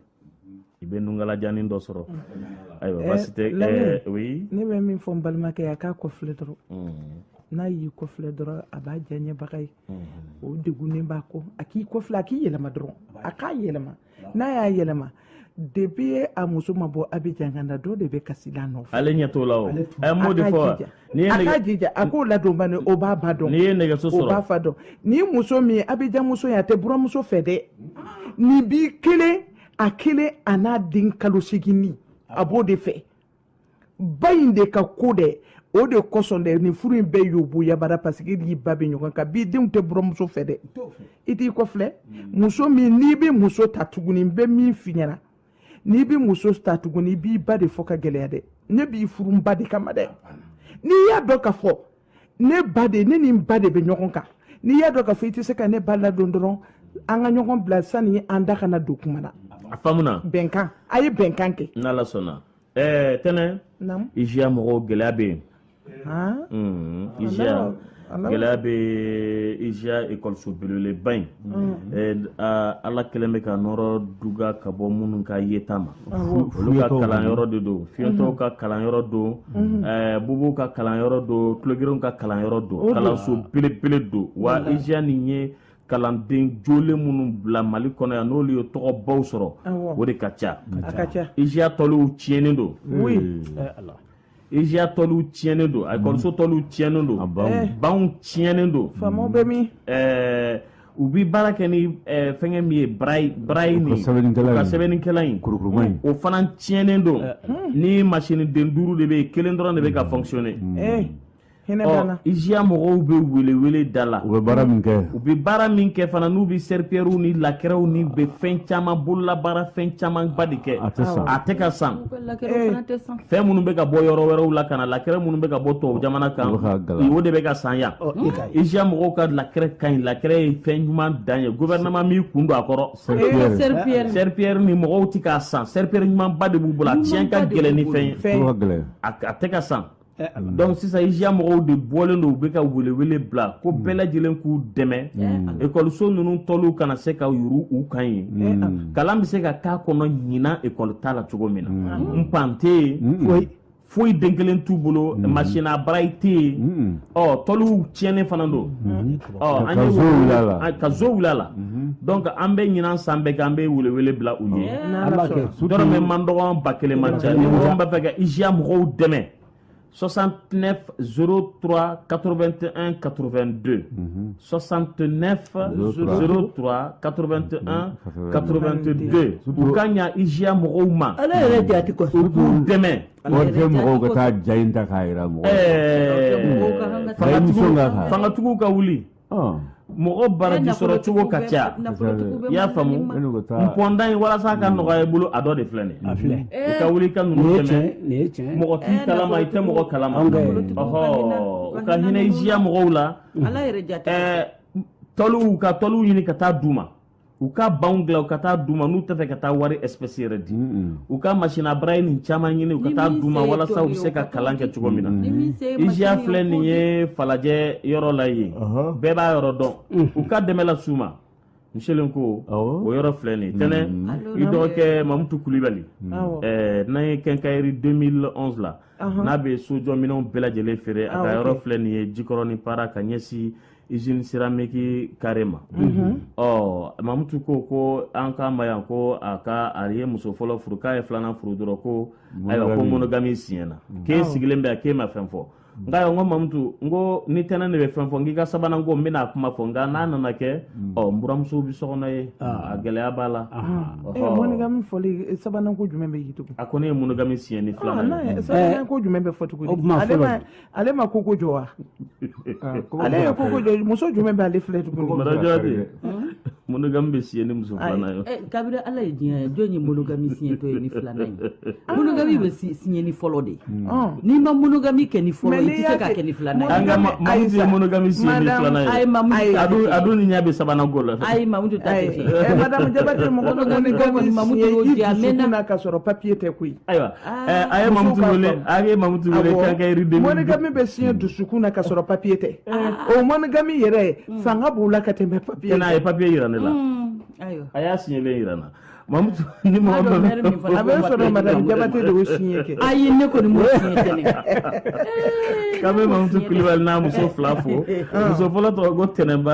i bɛ nungalajannin dɔ sɔrɔ ayiwa baasi tɛ oui ne bɛ min fɔ n balimakɛ ye a k'a kɔfilɛ dɔrɔn n'a y'i kɔfilɛ dɔrɔn a b'a diyaɲɛbaga ye o degunnen b'a kɔ a k'i kɔfilɛ a k'i yɛlɛma dɔrɔn a k'a yɛlɛma n'a y'a yɛlɛma de bi a muso ma bɔ abijan ganan dɔ de bɛ kasi la nɔfɛ ale ɲɛ t'o la o ɛ n b'o de fɔ a ka jija a k'o ladon bani o b'a ba dɔn n'i ye nɛgɛso sɔrɔ o b'a fa dɔn ni muso min ye abijan muso ye a tɛ buramuso fɛ dɛ nin b'i kelen a kelen a n'a den kalo seginnin a b'o de fɛ ba in de ka ko dɛ o de kosɔn dɛ nin furu in bɛɛ yoboyabara parce que n'i ba bɛ ɲɔgɔn kan bi denw tɛ buranmuso fɛ dɛ i t'i kɔfilɛ mm. muso min n'i bɛ muso ta tuguni n bɛ min f'i ɲɛna n'i bɛ muso ta tuguni i b'i ba de fɔ ka gɛlɛya dɛ ne b'i furu n ba de kama dɛ n'i y'a dɔn ka fɔ ne ba de ne ni n ba de bɛ ɲɔgɔn kan n'i y'a dɔn ka fɔ i tɛ se ka ne ba ladon dɔrɔn an ka ɲɔgɔn bila sani an da ka na don kuma na a faamuna bɛnkan a ye bɛnkan kɛ n'ala sɔnna ɛɛ tɛnɛ iziya mɔgɔw gɛlɛya bɛ yen iziya gɛlɛya bɛ iziya ekɔliso belebeleba in ala kɛlen bɛ ka nɔɔrɔ duga ka bɔ minnu ka yeta ma olu ka kalanyɔrɔ de don fiyentɔw ka kalanyɔrɔ don bobow ka kalanyɔrɔ don tulogɛrɛnw ka kalanyɔrɔ don kalanso belebele don wa iziya nin ye kalanden jolen minnu bɔla mali kɔnɔ yan n'olu ye tɔgɔbaw sɔrɔ o de ka ca iziya tɔliw tiɲɛnen don iziya tɔliw tiɲɛnen don ekɔliso tɔliw tiɲɛnen don banw tiɲɛnen don u bi baara kɛ ni fɛngɛ min ye barayi barayi nin ka sɛbɛnnikɛlan in kurukuruma in o fana tiɲɛnen don ni masiniden duuru de bɛ yen kelen dɔrɔn de bɛ ka fonctionner iziya mɔgɔw bɛ welewele da la u bɛ baara min kɛ u bɛ baara min kɛ fana n'u bɛ seripɛriw ni lakɛrɛw n'u bɛ fɛn caman bololabaara fɛn camanba de kɛ a tɛ san a tɛ ka san fɛn minnu bɛ ka bɔ yɔrɔ wɛrɛw la ka na lakɛrɛ minnu bɛ ka bɔ tubabu jamana kan o de bɛ ka san yan iziya mɔgɔw ka lakɛrɛ ka ɲi lakɛrɛ ye fɛn ɲuman dan ye gofɛrɛnaman m'i kun don a kɔrɔ seripɛri nin mɔgɔw tɛ k'a san seripɛri ɲumanba de b'u bolo a tiɲɛ ka gɛlɛn ni fɛn ye a tɛ ka san dɔnku sisan iziya mɔgɔw de bɔlen don u bɛ ka welewele bila ko bɛɛ lajɛlen k'u dɛmɛ ekɔliso ninnu tɔliw kana se ka yuuru u kan ye kalan bɛ se ka k'a kɔnɔ ɲinan ekɔli tala cogo min na ban tɛ yen foyi foyi den kelen t'u bolo masina barayi tɛ yen ɔ tɔliw tiɲɛnen fana don ka zo wulila la dɔn an bɛ ɲinan san bɛɛ kɛ an bɛ weleele bila u ye dɔmɛ man dɔgɔ ba kelen man ca b'a fɛ ka iiya mɔgɔw dɛmɛ sɔsan tɛnɛ s tora kato2te an kato2 don sɔsan tɛɛnɛ kato2te an kato2te don u ka ɲɛ iiya mɔgɔw ma ala yɛrɛ dɛmɛ wari tɛ mɔgɔw ka taa ja in ta k'a jira mɔgɔ fangatigiw ka wuli mɔgɔ baraji sɔrɔ cogo ka ca i y'a faamu n pɔnda in walasa ka nɔgɔya i bolo a dɔ de filɛ nin a filɛ i ka wuli ka ninnu dɛmɛ mɔgɔ t'i kalama i tɛ mɔgɔ kalama ɔhɔ u ka hinɛ iziya mɔgɔw la tɔliw ka tɔliw ɲini ka taa d'u ma u ka banw dilan u ka taa d'u ma n'u tɛ fɛ ka taa wari espèce yɛrɛ di u ka masini braille nin caman ɲini u ka taa d'u ma walasa u bɛ se ka kalan kɛ cogo min na IJA filɛ nin ye falajɛ yɔrɔ la yen bɛɛ b'a yɔrɔ dɔn u ka dɛmɛ las'u ma n selen ko o yɔrɔ filɛ nin ye tɛnɛ i dɔgɔkɛ mamutu kulibali n'a ye kɛnkayiri 2011 la n'a bɛ sojɔminɛnw bɛɛ lajɛlen feere a ka yɔrɔ filɛ nin ye jikɔrɔni para ka ɲɛsin izini seramiki kare ma ɔ mamutu ko ko an ka ma yan ko a ka a ye muso fɔlɔ furu k'a ye filanan furu dɔrɔn ko ayiwa ko monogami siɲɛna k'e sigilen bɛ k'e ma fɛn fɔ nka y'a ko mamutu n ko ni tɛnɛn de bɛ fɛn fɔ n k'i ka sabanan ko n bɛna a kuma fɔ nka n'a nana kɛ ɔ n buranmuso bɛ sɔgɔnɔ ye a gɛlɛya b'a la e ka monogami fɔli sabanan ko jumɛn bɛ yen tugun a ko ne ye monogami siɲɛ ni filanan ye sabanan ko jumɛn bɛ fɔ tugun o tuma fɔlɔ ale ma koko jɔ wa ale ye koko jɔ muso jumɛn b'ale filɛ tuguni madamu jabate monogami bɛ siɲɛ ni muso filanan ye kabiri ala ye diɲɛ da jɔn ye monogami siɲɛtɔ ye ni filanan ye monogami bɛ siɲɛ ni fɔlɔ de n'i ma monogami kɛ ni fɔlɔ ye i tɛ se k'a kɛ ni filanan ye mamutu ye monogami siɲɛ ni filanan ye ayi mamutu a dun ni ɲɛ bɛ sabanan ko la ayi mamutu ta tɛ tiɲɛ madamu jabate mɔgɔ dɔ kɔni mamutu y'o diya mɛ na ka sɔrɔ papiye tɛ koyi ayiwa a ye mamutu wele a ye mamutu wele k'a kɛ yiriden monogami bɛ siɲɛ dusukun na ka sɔrɔ papiye tɛ o monogami yɛrɛ fanga b'o la ka tɛmɛ papiye n'a ye papiye yira ne la a y'a siɲɛlen yira n na mamutu ni mɔgɔ dɔ bɛ a bɛ sɔrɔ madame jabate de y'o siɲɛ kɛ ayi ne kɔni m'o siɲɛ kɛ ne k'an bɛ mamutu kulibali n'a muso fila fo muso fɔlɔ tɔgɔ ko tɛnɛnba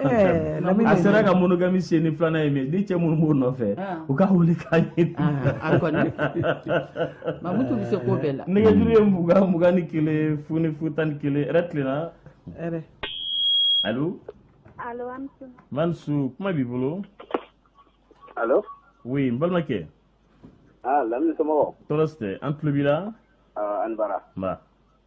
Eh, a sera ka monogami siɲɛ ni filanan ye mɛ ni cɛ minnu b'o nɔfɛ ah. u ka wuli k'a ɲini ah, ah, mamutu bɛ se ko bɛɛ la nɛgɛjuru ye mugan mugan ni kelen fu ni fu tan ni kelen ɛrɛ tilenna ɛrɛ alo alo mansu kuma b'i bolo alo oui n balimakɛ aa lamini somɔgɔw tɔɔrɔ si tɛ an tulo b'i la an bara nba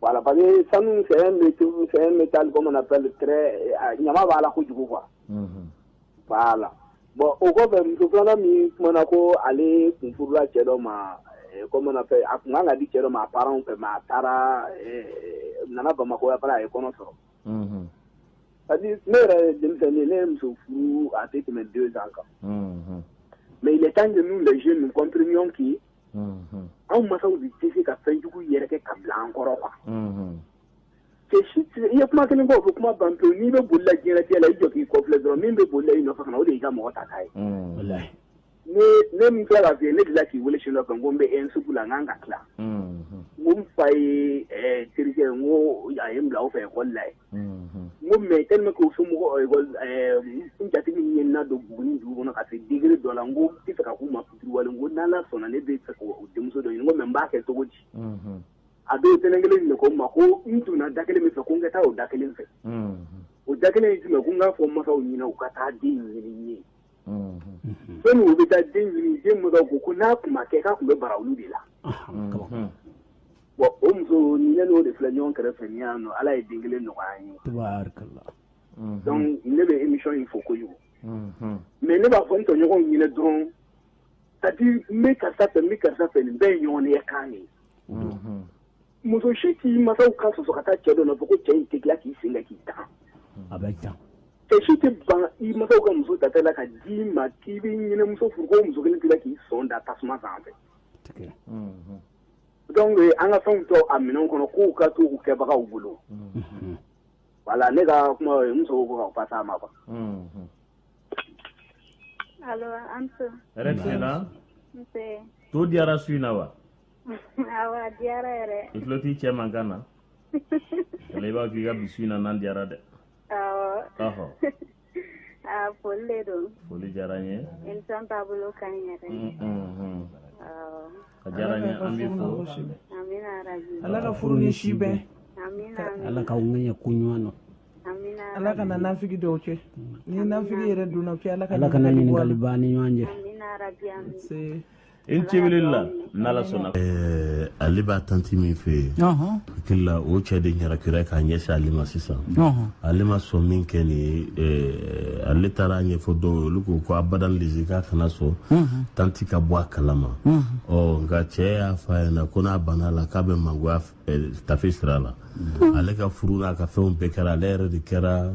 voilà parce que sanu c'est un c'est un métal comment on appelle très ɲama b'a la kojugu quoi voilà bon o kɔfɛ muso filanan min kumana ko ale kun furula cɛ dɔ ma comment on appelle a kun kan ka di cɛ dɔ ma a parents fɛ mais a taara nana bamakɔ yan fana a ye kɔnɔ sɔrɔ parce que ne yɛrɛ ye denmisɛnnin ne ye muso furu a tɛ tɛmɛ deux ans kan mais il est temps que nous les jeunes nous comprenions que anw masaw de tɛ se ka fɛnjugu yɛrɛ kɛ ka bila an kɔrɔ kuwa i ye kuma kelen bɔ ko kuma ban pewu n'i bɛ boli la jinɛtigɛ la i jɔ k'i kɔ filɛ dɔrɔn min bɛ boli i nɔfɛ o de y'i ka mɔgɔ ta k'a ye ne min kɛra lafi ne dilan k'i weele su la kan ko n bɛ e sugu la n'an ka tila n fa ye terikɛ n ko a ye bila aw fɛ kɔlila ye mɛ e bɛ k'u somɔgɔ jatigi min ye na don bugun dugu kɔnɔ ka digi dɔ la ko i ka k'u ma wale ko n' sɔnna ne bɛ fɛ denmuso dɔ ɲini ko n b'a kɛ cogo di a bɛ tɛnɛn kelen de ko ma ko n donna da kelen min fɛ ko n ka taa o da kelen fɛ o da kelen in tun ko n'a fɔ masaw ɲinin u ka taa den ɲinin ye fɛn u bɛ taa den ɲini den ko ko n'a tun kɛ k'a tun bɛ baara olu de la Bon o muso ne n'o de filɛ ɲɔgɔn kɛrɛfɛ n'i y'a dɔn ala ye den kelen nɔgɔya ye ne bɛ imi in fɔ ko kojugu mɛ ne b'a fɔ n tɔɲɔgɔnw ɲini dɔrɔn ka di n bɛ karisa fɛ n bɛ karisa fɛ nin bɛɛ ye ɲɔgɔn ye kan ye muso si k'i mansaw ka sɔsɔ ka taa cɛ dɔ nɔfɛ ko cɛ in tɛ k'i sen k'i ta a bɛ ca cɛ si tɛ ban i mansaw ka muso ta la ka d'i ma k'i bɛ nin muso furu ko muso kelen tila k'i sɔn da tasuma sanfɛ Dɔnku ye an ka fɛnw to a minɛn kɔnɔ k'u ka to u kɛbagaw bolo wala ne ka kuma muso ko ka taa ma to diyara su in na wa tuloloti cɛ man kan na ale b'a k'i ka bi su in na diyara dɛ ɔ Aa foli de don. Foli diyara an ye. Emission taabolo ka ɲi yɛrɛ de. Unhun. Awɔ. A diyara an ye an b'i fo. Amina yarabi. Ala ka furu ni si bɛn. Amina amina. Ala k'aw kɛnɛya ko ɲuman na. Amina yarabi. Ala kana nafigi don aw cɛ. Ni nafigi yɛrɛ donna aw cɛ Ala ka Ala kana ɲininkali bɔ an ni ɲɔgɔn cɛ. Amina yarabi amina. Se. i ce la n'ala sɔnna eh, ale b'a tanti min fɛ yen hakili la o cɛ de ɲarakira k'a ɲɛsin ale ma sisan ale ma sɔn minkɛ nin ye eh, ale taara a ɲɛfɔ dɔw ye olu ko ko abadan lezi k'a kana sɔn tanti ka bɔ a kalama ɔ nka cɛ y'a fɔ a ɲɛna ko n'a banna a la k'a bɛ mangoya a fɛ tafe sira la ale ka furu n'a ka fɛnw bɛɛ kɛra ale yɛrɛ de kɛra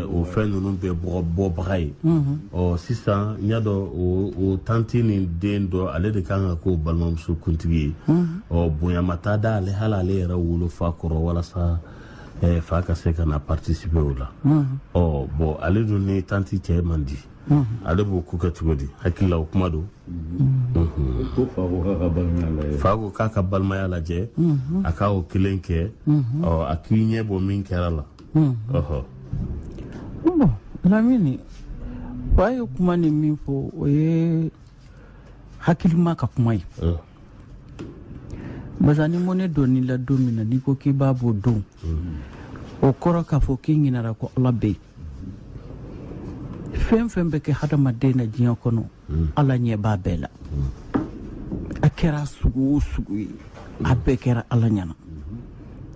o fɛn ninnu bɛɛ bɔbaga ye ɔ sisan i y'a dɔn o tanti nin de don ale de kan ka k'o balimamuso kuntigi ye ɔ bonyama t'a da ale hali ale yɛrɛ wolofa kɔrɔ walasa fa ka se ka na patisipe o la ɔ bɔn ale dun ni tanti cɛ man di ale b'o ko kɛ cogo di hakilila o kuma don fa ko k'a ka balimaya lajɛ a k' o kelen kɛ a k'i ɲɛ bɔ min kɛra la lamini ba ye kuma nin min fɔ o ye hakilima ka kuma ye barisa ni mɔgɔ ɲɛ donn'i la don min na n'i ko k'i b'a bɔ o don o kɔrɔ k'a fɔ k'i ɲinara ko ala bɛ yen fɛn fɛn bɛ kɛ hadamaden na diɲɛ kɔnɔ ala ɲɛ b'a bɛɛ la a kɛra sugu o sugu ye a bɛɛ kɛra ala ɲɛna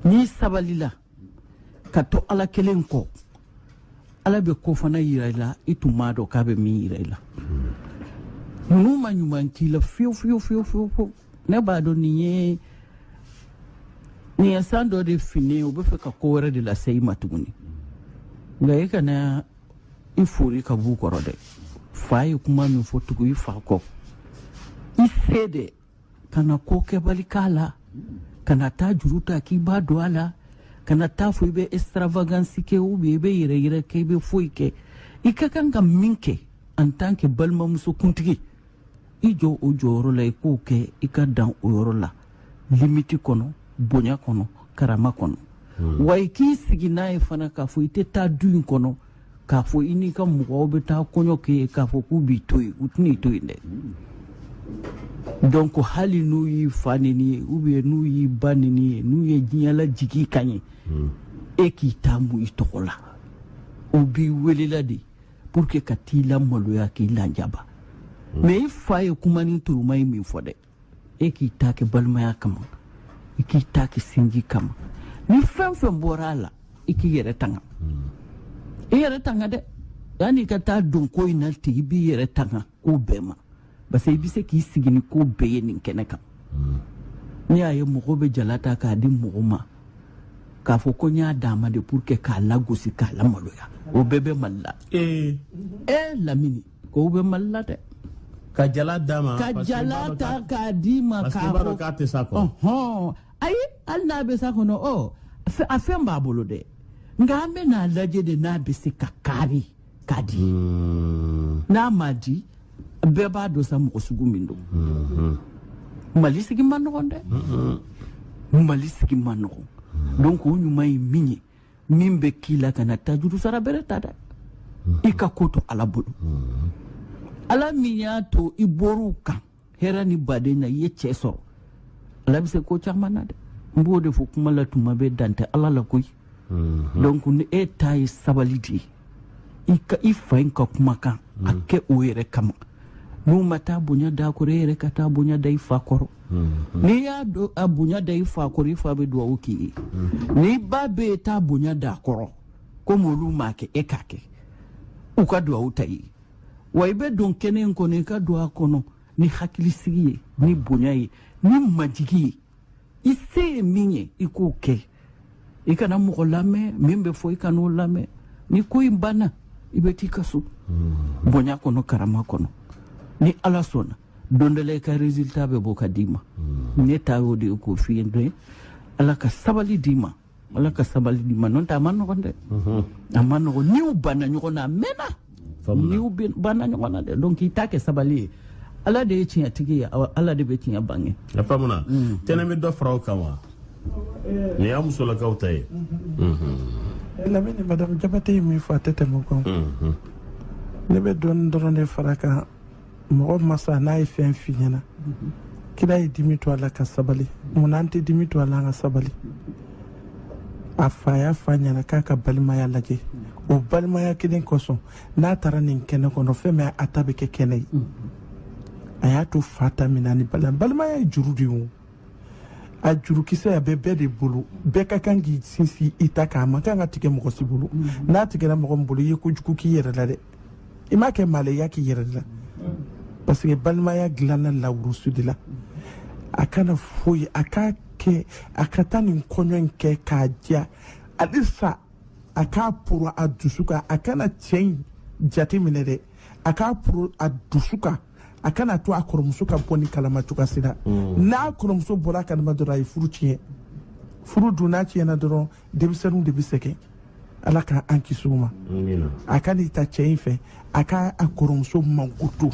n'i sabalila ka to ala kelen kɔ ala bɛ ko fana yira i la i tun m'a dɔn k'a bɛ min yira i la ninnu ma ɲuman k'i la fiyewu fiyewu fiyewu fiyewu ne b'a dɔn nin ye nin ye san dɔ de fini u bɛ fɛ ka ko wɛrɛ de lase i ma tuguni nka i kana i fori ka b'u kɔrɔ dɛ fa ye kuma min fɔ tugu i fa kɔ i se dɛ kana ko kɛbali k'a la kana taa juru ta k'i b'a don a la kana taa fɔ i bɛ extravagance kɛ ou bien i bɛ yɛrɛyira kɛ i bɛ foyi kɛ i ka kan ka min kɛ en tant que balimamuso kuntigi i jɔ o jɔyɔrɔ la i k'o kɛ i ka dan o yɔrɔ la limiti kɔnɔ bonya kɔnɔ karama kɔnɔ hmm. wa i k'i sigi n'a ye fana k'a fɔ i tɛ taa du in kɔnɔ k'a fɔ i n'i ka mɔgɔw bɛ taa kɔɲɔ kɛ yen k'a fɔ k'u b'i to yen u tɛna i to yen dɛ donc hali n'u y'i fa nɛni yen ou bien n'u y'i ba nɛni yen n'u ye diɲɛ lajigi i kan yen hmm. e k'i taa mun i tɔgɔ la u b'i wele la de pour que ka t'i lamaloya k'i lanjaba mm. mais i fa ye kuma ni turuma ye min fɔ dɛ e k'i ta kɛ balimaya kama i k'i ta kɛ sinji kama ni fɛn fɛn bɔra a la i k'i yɛrɛ tanga mm. i yɛrɛ tanga dɛ yanni i ka taa don ko in na ten i b'i yɛrɛ tanga ko bɛɛ ma parce que i bɛ se k'i sigi ni ko bɛɛ ye nin kɛnɛ kan ne y'a ye mɔgɔw bɛ jala ta k'a di mɔgɔw ma k'a fɔ ko n y'a d'a ma de pour que k'a lagosi k'a lamaloya o bɛɛ bɛ mali la ee ee lamini k'o bɛ mali la dɛ ka jala d'a ma ka jala ta k'a d'i ma k'a fɔ k'a tɛ s'a kɔrɔ ɔhɔn ayi hali n'a bɛ s'a kɔrɔ ɔ a fɛn b'a bolo dɛ nka an bɛ n'a lajɛ de n'a bɛ se ka kari k'a di hmm. n'a ma di bɛɛ b'a dɔn sa mɔgɔ sugu min don hmm. mali sigi man nɔgɔn dɛ hmm. mali sigi man nɔgɔn donc o ɲuman ye min ye min bɛ k'i la kana taa juru sarabali ta dɛ i ka ko to ala bolo ala min y'a to i bɔr'u kan hɛrɛ ni baden na i ye cɛ sɔrɔ ala be se ko caaman na dɛ n b'o de fɔ kuma la tuma bɛɛ dan tɛ ala la koyi mhm. donc ni e ta ye sabali de ye i ka i fa in ka kumakan a mhm. kɛ o yɛrɛ kama n'u ma taa bonya d'a kɔrɔ e yɛrɛ ka taa bonya da i fa kɔrɔ mhm. n'i y'a dɔn a bonya da i fa kɔrɔ i fa be duwawu k'i ye n'i ba be yen taa bonya d'a kɔrɔ komi olu m'a kɛ e k'a kɛ u ka duwawu ta ye wa i bɛ don kɛnɛ in kɔnɔ i ka don a kɔnɔ ni hakilisigi ye ni bonya ye ni majigi ye i se ye min ye i k'o kɛ i kana mɔgɔ lamɛn min bɛ fɔ i kan'o lamɛn ni ko in banna i bɛ t'i ka so hmm. bonya kɔnɔ karama kɔnɔ ni ala sɔnna don dɔ la i ka résultat bɛ bɔ ka d'i ma hmm. ne ta y'o de ye k'o f'i ye ala ka sabali d'i ma ala ka sabali d'i ma nɔntɛ a man nɔgɔn dɛ a man nɔgɔn niw banna ɲɔgɔn na a mɛnna niw banna ɲɔgɔn na dɛ donc k'i ta kɛ sabali ye ala de ye tiɲɛtigi ye ala de bɛ tiɲɛ bange a faamuna mm. tɛnɛ bɛ dɔ fara o kan wa nin y'a musolakaw ta ye mm-hmm. lamini madame jabate ye min fɔ a tɛ tɛmɛ o kan mm-hmm. ne bɛ dɔɔni dɔrɔn de far'a kan mɔgɔ masa n'a ye fɛn f'i ɲɛna kira ye dimi to a la ka sabali mun an tɛ dimi to a la an ka sabali a fa y'a f'a ɲɛna k'a ka balimaya lajɛ o balimaya kelen kosɔn n'a taara nin kɛnɛ kɔnɔ fɛn min a ta bɛ kɛ kɛnɛ ye a y'a to fa ta min na ni balimaya ye juru de ye a jurukisɛ a bɛ bɛɛ de bolo bɛɛ ka kan k'i sinsin i ta kan a man kan ka tigɛ mɔgɔ si bolo n'a tigɛra mɔgɔ min bolo i ye kojugu k'i yɛrɛ la dɛ i m'a kɛ maa la i y'a k'i yɛrɛ de la parce que balimaya dilanna lawurusu de la a kana foyi a k'a kɛ a ka taa nin kɔɲɔ in kɛ k'a diya halisa a k'a poron a dusu kan a kana cɛ in jate minɛ dɛ a k'a poron a dusu kan a kana to a kɔrɔmuso ka bɔ nin kalama cogoya si la n'a kɔrɔmuso bɔra a kalama dɔrɔn a ye furu tiɲɛ furu dun n'a tiɲɛna dɔrɔn denmisɛnninw de bɛ sɛgɛn ala ka an kisi o ma a kan'i ta cɛ in fɛ a ka a kɔrɔmuso makoto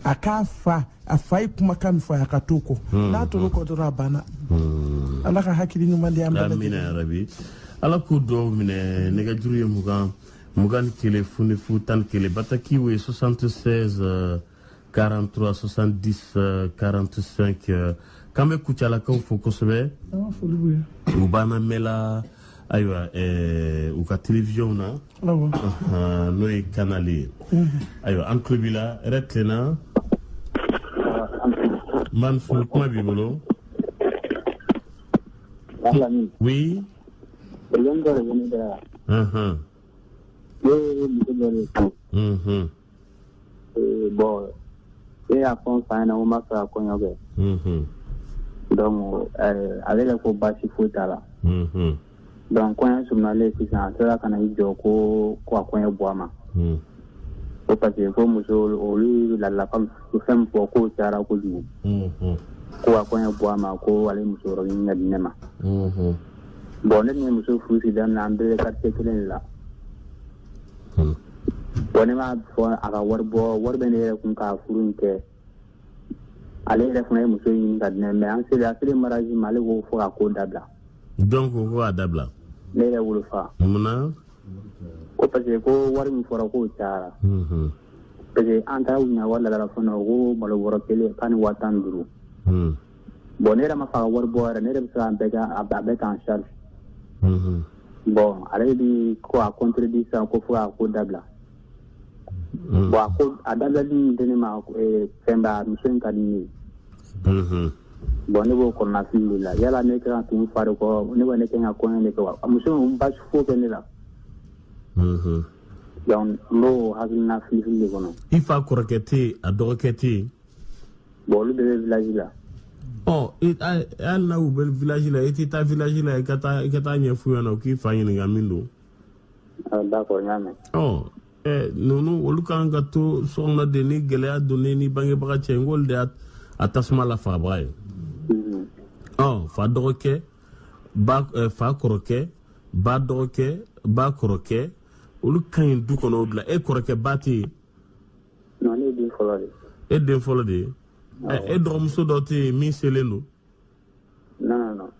a k'a fa a fa ye kumakan min fɔ a ka t'o kɔ hmm. n'a tor'o kɔ dɔrɔn a banna hmm. ala ka hakili ɲuman di an bɛɛ ma amiina yarabi ala k'o duwa minɛ nɛgɛjuru ye mugan mugan ni kelen fu ni fu tan ni kelen batakiw ye 76 4370 45 k'an bɛ kucalakaw fo kosɛbɛ u b'an lamɛn na ayiwa eh, u ka télévision na n'o ye canal ye ayiwa an tulo b'i la hɛrɛ tilenna man fo kuma b'i bolo oui Uh-huh. Ee bon e y'a fɔ n fa ɲɛ na o ma fɛ kɔɲɔ kɛ ale yɛrɛ ko baasi foyi t'a la donc kɔɲɔ surunyalen sisan a sera ka na i jɔ ko a kɔɲɔ bɔ a ma ko parce que ko muso olu la lakalu fɛn fɔ ko caara kojugu ko a kɔɲɔ bɔ a ma ko ale muso ɲini ka di ne ma bon ne muso furusi damina an bɛɛ quartier kelen le la bon ne m'a fɔ a ka wari bɔ wari bɛ ne yɛrɛ kun ka furu in kɛ ale yɛrɛ fana ye muso ɲini ka di ne ma an selen a selen mariage ma ale ko fo ka ko dabila donc ko k'a dabila ne yɛrɛ wolofa munna ko parce que ko wari min fɔra k'o cayara mhm. parce que an taara ɲina wari laada la fana ko malo bɔrɔ kelen k'a ni waa tan ni duuru hmm. bɔn ne yɛrɛ m'a fɔ a ka wari bɔ yɛrɛ ne yɛrɛ bɛ se an bɛɛ kan a bɛɛ ta en charge bɔn ale bɛ ko a kɔntorodi sisan ko fo a ko dabila bɔn a ko a dabilali min tɛ ne ma fɛnba muso in ka di ne ye bɔn ne b'o kɔnɔnafili de la yala ne ka tun fari kɔ ne bɛ ne kɛ ka kɔɲɔ de kɛ wa muso in basi fo kɛ ne la donc n b'o hakilina filifili de kɔnɔ i fa kɔrɔkɛ tɛ yen a dɔgɔkɛ tɛ yen Bon olu bɛɛ bɛ village la. Ɔ e a hali n'a u bɛ village la e tɛ taa village la i ka taa i ka taa ɲɛf'u ɲɛna u k'i fa ɲininka min don. Ah, d'accord n y'a mɛn. Ɔ ɛ ninnu olu ka kan ka to so kɔnɔ de ni gɛlɛya donna i ni bangebaga cɛ n k'olu de y'a a tasuma lafagabaga ye. Mhm. Ɔ fa dɔgɔkɛ ba ɛ fa kɔrɔkɛ ba dɔgɔkɛ ba kɔrɔkɛ olu ka ɲi du kɔnɔ o de la e kɔrɔkɛba tɛ yen. Non, ne ye den fɔlɔ de ye. E den fɔlɔ de ye? Awɔ. E dɔgɔmuso dɔ tɛ yen min selen don? Non, non, non.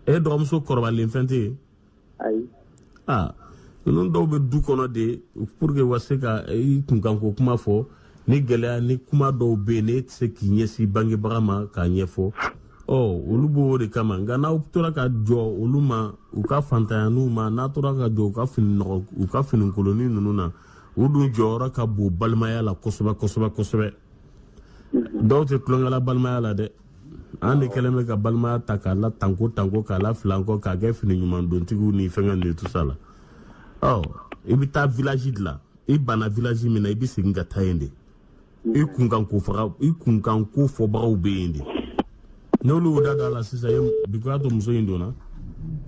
E dɔgɔmuso kɔrɔbalen fɛn tɛ yen? Ayi. Aa ninnu dɔw bɛ du kɔnɔ de pour que u ka se ka i kunkanko kuma fɔ ni gɛlɛya ni kuma dɔw bɛ yen n'e tɛ se k'i ɲɛsin bangebaga ma k'a ɲɛfɔ ɔ olu b'o de kama nka n'aw tora ka jɔn olu ma u ka faantanyanin ma n'aw tora ka jɔn u ka fini nɔgɔ u ka fininkolonin ninnu na u dun jɔyɔrɔ ka bon balimaya la kosɛbɛ kosɛbɛ kosɛbɛ dɔw tɛ tulonkɛla balimaya la dɛ an de kɛlen bɛ ka balimaya ta k'a la tanko tanko k'a la filan kɔ k'a kɛ fini ɲuman dontigiw ni fɛngɛ ninnu tout ça la ɔ i bɛ taa village de la i banna village min na i bɛ segin ka taa yen de i kunkan ko faga i kunkan ko fɔbagaw bɛ yen de n'olu y'u da don a la sisan ye bikuya to muso in donna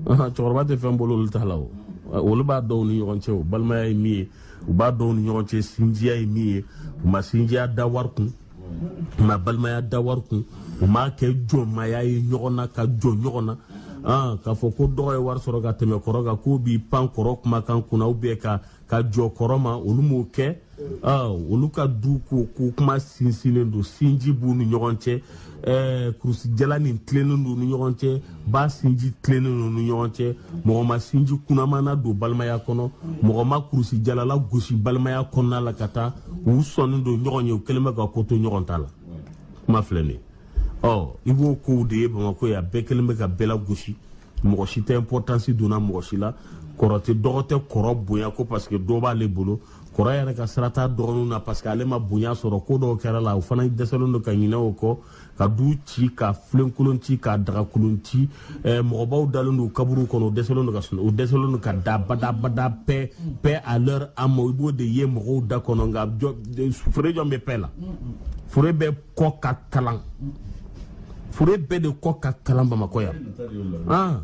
cɛkɔrɔba tɛ fɛn bolo olu t'a la o olu b'a dɔn u ni ɲɔgɔn cɛ o balimaya ye min ye u b'a dɔn u ni ɲɔgɔn cɛ sinjiya ye min ye u ma sinjiya da wari kun u ma balimaya da wari kun u m'a kɛ jɔnmaya ye ɲɔgɔn na ka jɔn ɲɔgɔn na k'a fɔ ko dɔgɔ ye wari sɔrɔ ka tɛmɛ kɔrɔ kan k'o b'i pan kɔrɔ kumakan kunna u bɛ ka ka jɔn kɔrɔ ma olu m'o kɛ olu ka du ko ko kuma sinsinnen don sinji b'u ni ɲɔgɔn cɛ kurusijala nin tilennen don u ni ɲɔgɔn cɛ ba sinji tilennen don u ni ɲɔgɔn cɛ mɔgɔ ma sinji kunaman nadon balimaya kɔnɔ mɔgɔ ma kurusijala lagosi balimaya kɔnɔna la ka taa u sɔnnen don ɲɔgɔn ye u kɛlen bɛ ka ko to ɲɔgɔn ta la kuma filɛ nin ɔ i b'o kow de ye bamakɔ yan bɛɛ kɛlen bɛ ka bɛɛ lagosi mɔgɔ si tɛ importance donna mɔgɔ si la kɔrɔ tɛ dɔgɔ tɛ kɔrɔ bonya ko parce que dɔ b'ale bolo kɔrɔ yɛrɛ ka sira t'a dɔgɔninw na parce que ale ma bonya sɔrɔ ko dɔw kɛra a la o fana dɛsɛlen don ka ɲinɛ o kɔ ka du ci ka filenkolon ci ka dagakolon ci eh, mɔgɔbaw dalen don kaburu kɔnɔ o dɛsɛlen don ka sunɔgɔ o dɛsɛlen don ka da badabada paix paix à leur âme i b'o de ye mɔgɔw da kɔnɔ nka jɔn fure jɔn bɛ paix la fure bɛɛ kɔ ka kalan fure bɛɛ de kɔ ka kalan bamakɔ yan ah,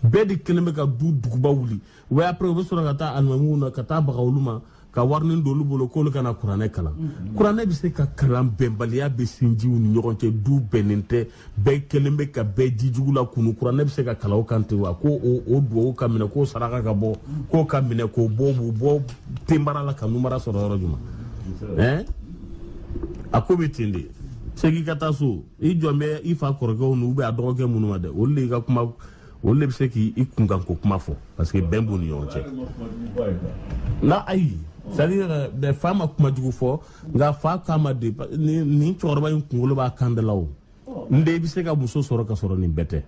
bɛɛ de kɛlen bɛ ka du duguba wuli wa après u bɛ sɔrɔ ka taa alimamuw na ka taa baga olu ma ka warinin don olu bolo k'olu kana kuranɛ kalan mm-hmm. kuranɛ bɛ se ka kalan bɛnbaliya bɛ sinjiw ni ɲɔgɔn cɛ du bɛnnen tɛ bɛɛ kɛlen bɛ ka bɛɛ jijugu la kunu kuranɛ bɛ se ka kalan o kan ten wa ko o duwawu ka minɛ k'o saraka ka bɔ k'o ka minɛ k'o bɔ b'u bɔ ténèbres la ka lumière sɔrɔ yɔrɔ jumɛn a ko bɛ ten de i segin ka taa so i jɔlen bɛ i fa kɔrɔkɛw n'u bɛ a dɔgɔkɛ minnu ma dɛ olu de y'i ka kuma olu de bɛ se k'i kunkanko kuma fɔ parce que bɛn b'u ni ɲɔgɔn cɛ nka ayi c'est-à-dire fa ma kuma jugu fɔ nka fa k'a ma de nin cɛkɔrɔba in kunkolo b'a kan de la o n den i bɛ se ka muso sɔrɔ ka sɔrɔ nin bɛɛ tɛ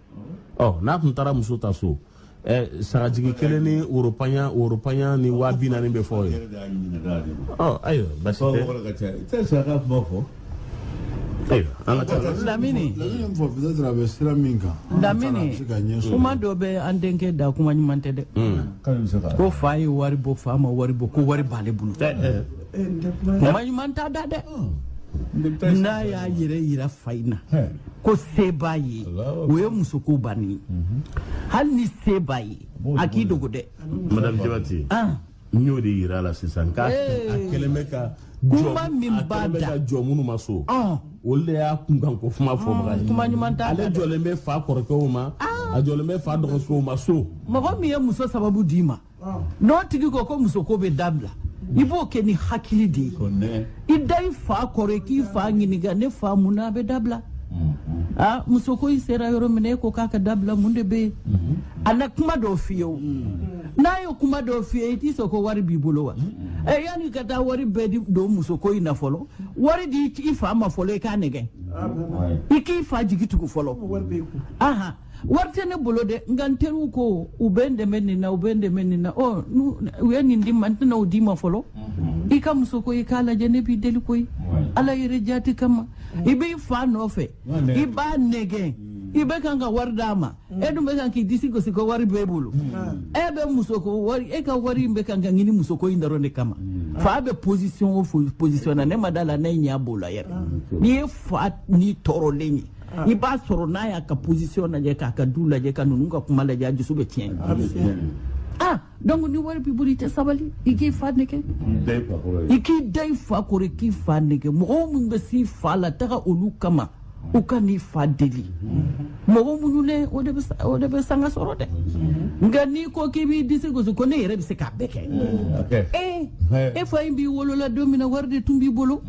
ɔ n'a tun taara muso ta so ɛ sagajigi kelen ni woro panye woro panye ni waa bi naani bɛ fɔ i ye ɔ ayiwa basi tɛ lamini kuma dɔ bɛ an denkɛ da kuma ɲuman tɛ dɛ ko fa ye wari bɔ fa ma wari bɔ ko wari b'ale bolo ma ɲuman t'a da dɛ n'a y'a yɛrɛ yira fa in na ko se b'a ye o ye musoko bannen ye hali ni se b'a ye a k'i dogo dɛ madame jabate n y'o de yira a la sisan k'a a kɛlen bɛ ka kuma min b'a da ka jɔ minnu ma so olu de y'a kunkan ko kuma fɔbaga ye kuma ɲuman t'a ale jɔlen bɛ fa kɔrɔkɛw ma a jɔlen bɛ fa dɔgɔmusow ma so mɔgɔ min ye muso sababu d'i ma n'o tigi ko ko musoko bɛ dabila i b'o kɛ ni hakili de ye i da i fa kɔrɔ i k'i fa ɲininka ne fa mun na a bɛ dabila aa muso ko i sera yɔrɔ min e ko k'a ka dabila mun de bɛ yen a na kuma dɔ f'i ye o n'a ye kuma dɔ f'i ye i t'i sɔn ko wari b'i bolo wa ɛ yanni i ka taa wari bɛɛ de don muso ko in na fɔlɔ wari di i fa ma fɔlɔ i k'a nɛgɛn i k'i fa jigi tugu fɔlɔ aha wari tɛ ne bolo dɛ nka n teriw ko u bɛ n dɛmɛ nin na u bɛ n dɛmɛ nin na ɔ u ye nin di n ma n tɛna o d'i ma fɔlɔ mhm. i ka muso ko i k'a lajɛ ne b'i deli koyi ala yɛrɛ jaati kama mhm. i b'i fa nɔfɛ i b'a nɛgɛn mhm. i bɛ kan ka wari d'a ma e dun bɛ kan k'i disi gosi ko wari b'e bolo e bɛ muso ko wari e ka wari in bɛ kan ka ɲini muso ko in dɔrɔn de kama fa bɛ position o position na ne ma da a la n'e ɲɛ b'o la yɛrɛ n'i ye fa nin tɔɔrɔlen ye i b'a sɔrɔ n'a y'a ka position lajɛ k'a ka du lajɛ ka ninnu ka kuma lajɛ a dusu bɛ tiɲɛ ah donc ni wari b'i bolo i tɛ sabali i k'i fa nɛgɛn i k'i da i fa kɔrɔ i k'i fa nɛgɛn mɔgɔ minnu bɛ s'i fa la taga olu kama u ka n'i fa deli mɔgɔ muɲunen o de bɛ sanga sɔrɔ dɛ nka n'i ko k'i b'i disi gosi ko ne yɛrɛ bɛ se k'a bɛɛ kɛ ee e fa in b'i wolo la don min na wari de tun b'i bolo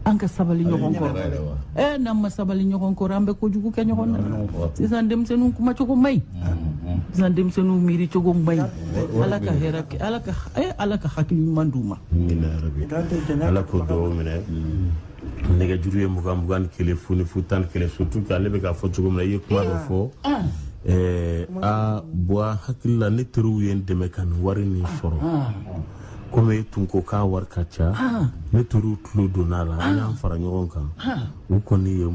an ka sabali ɲɔgɔn kɔrɔ ɛ n'an ma sabali ɲɔgɔn kɔrɔ an bɛ kojugu kɛ ɲɔgɔn na sisan denmisɛnninw kuma cogo man ɲi sisan denmisɛnninw miiri cogo man ɲi ala ka hɛrɛ kɛ ala ka ɛ ala ka hakili ɲuman d'u ma ala k'o dugaw minɛ nɛgɛjuru ye mugan mugan ni kelen fu ni fu tan ni kelen surtout k'ale bɛ k'a fɔ cogo min na i ye kuma dɔ fɔ ɛɛ a bɔ i hakili la ne teriw ye n dɛmɛ ka nin wari nin sɔrɔ komi e tun ko k'a wari ka ca ne teriw tulo donna a la an y'an fara ɲɔgɔn kan u kɔni ye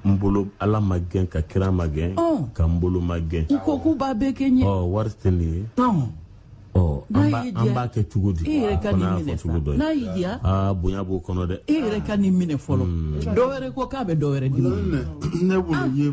n bolo ala magɛn ka kira magɛn ka n bolo magɛn ko k'u b'a bɛɛ kɛ n ye ɔ wari tɛ nin ye ɔ an b'a kɛ cogo di e yɛrɛ ka nin minɛ cogo dɔ n'a y'i diya aa bonya b'o kɔnɔ dɛ e yɛrɛ ka nin minɛ fɔlɔ dɔwɛrɛ ko k'a bɛ dɔwɛrɛ di ne bolo ye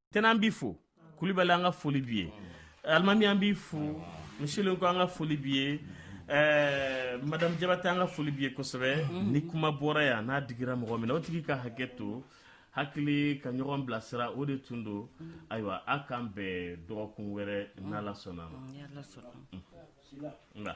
tɛnɛn b'i fo kulibali an ka foli b'i ye alimami an b'i fo misilen ko an ka foli b'i ye Eh, madame jabate an ka foli b'i ye kosɛbɛ mhm. ni kuma bɔra yan n'a digira mɔgɔ min na o tigi ka hakɛ to hakili ka ɲɔgɔn bilasira o de tun don mhm. ayiwa a k'an bɛɛ dɔgɔkun wɛrɛ mhm. n'ala sɔnn'a ma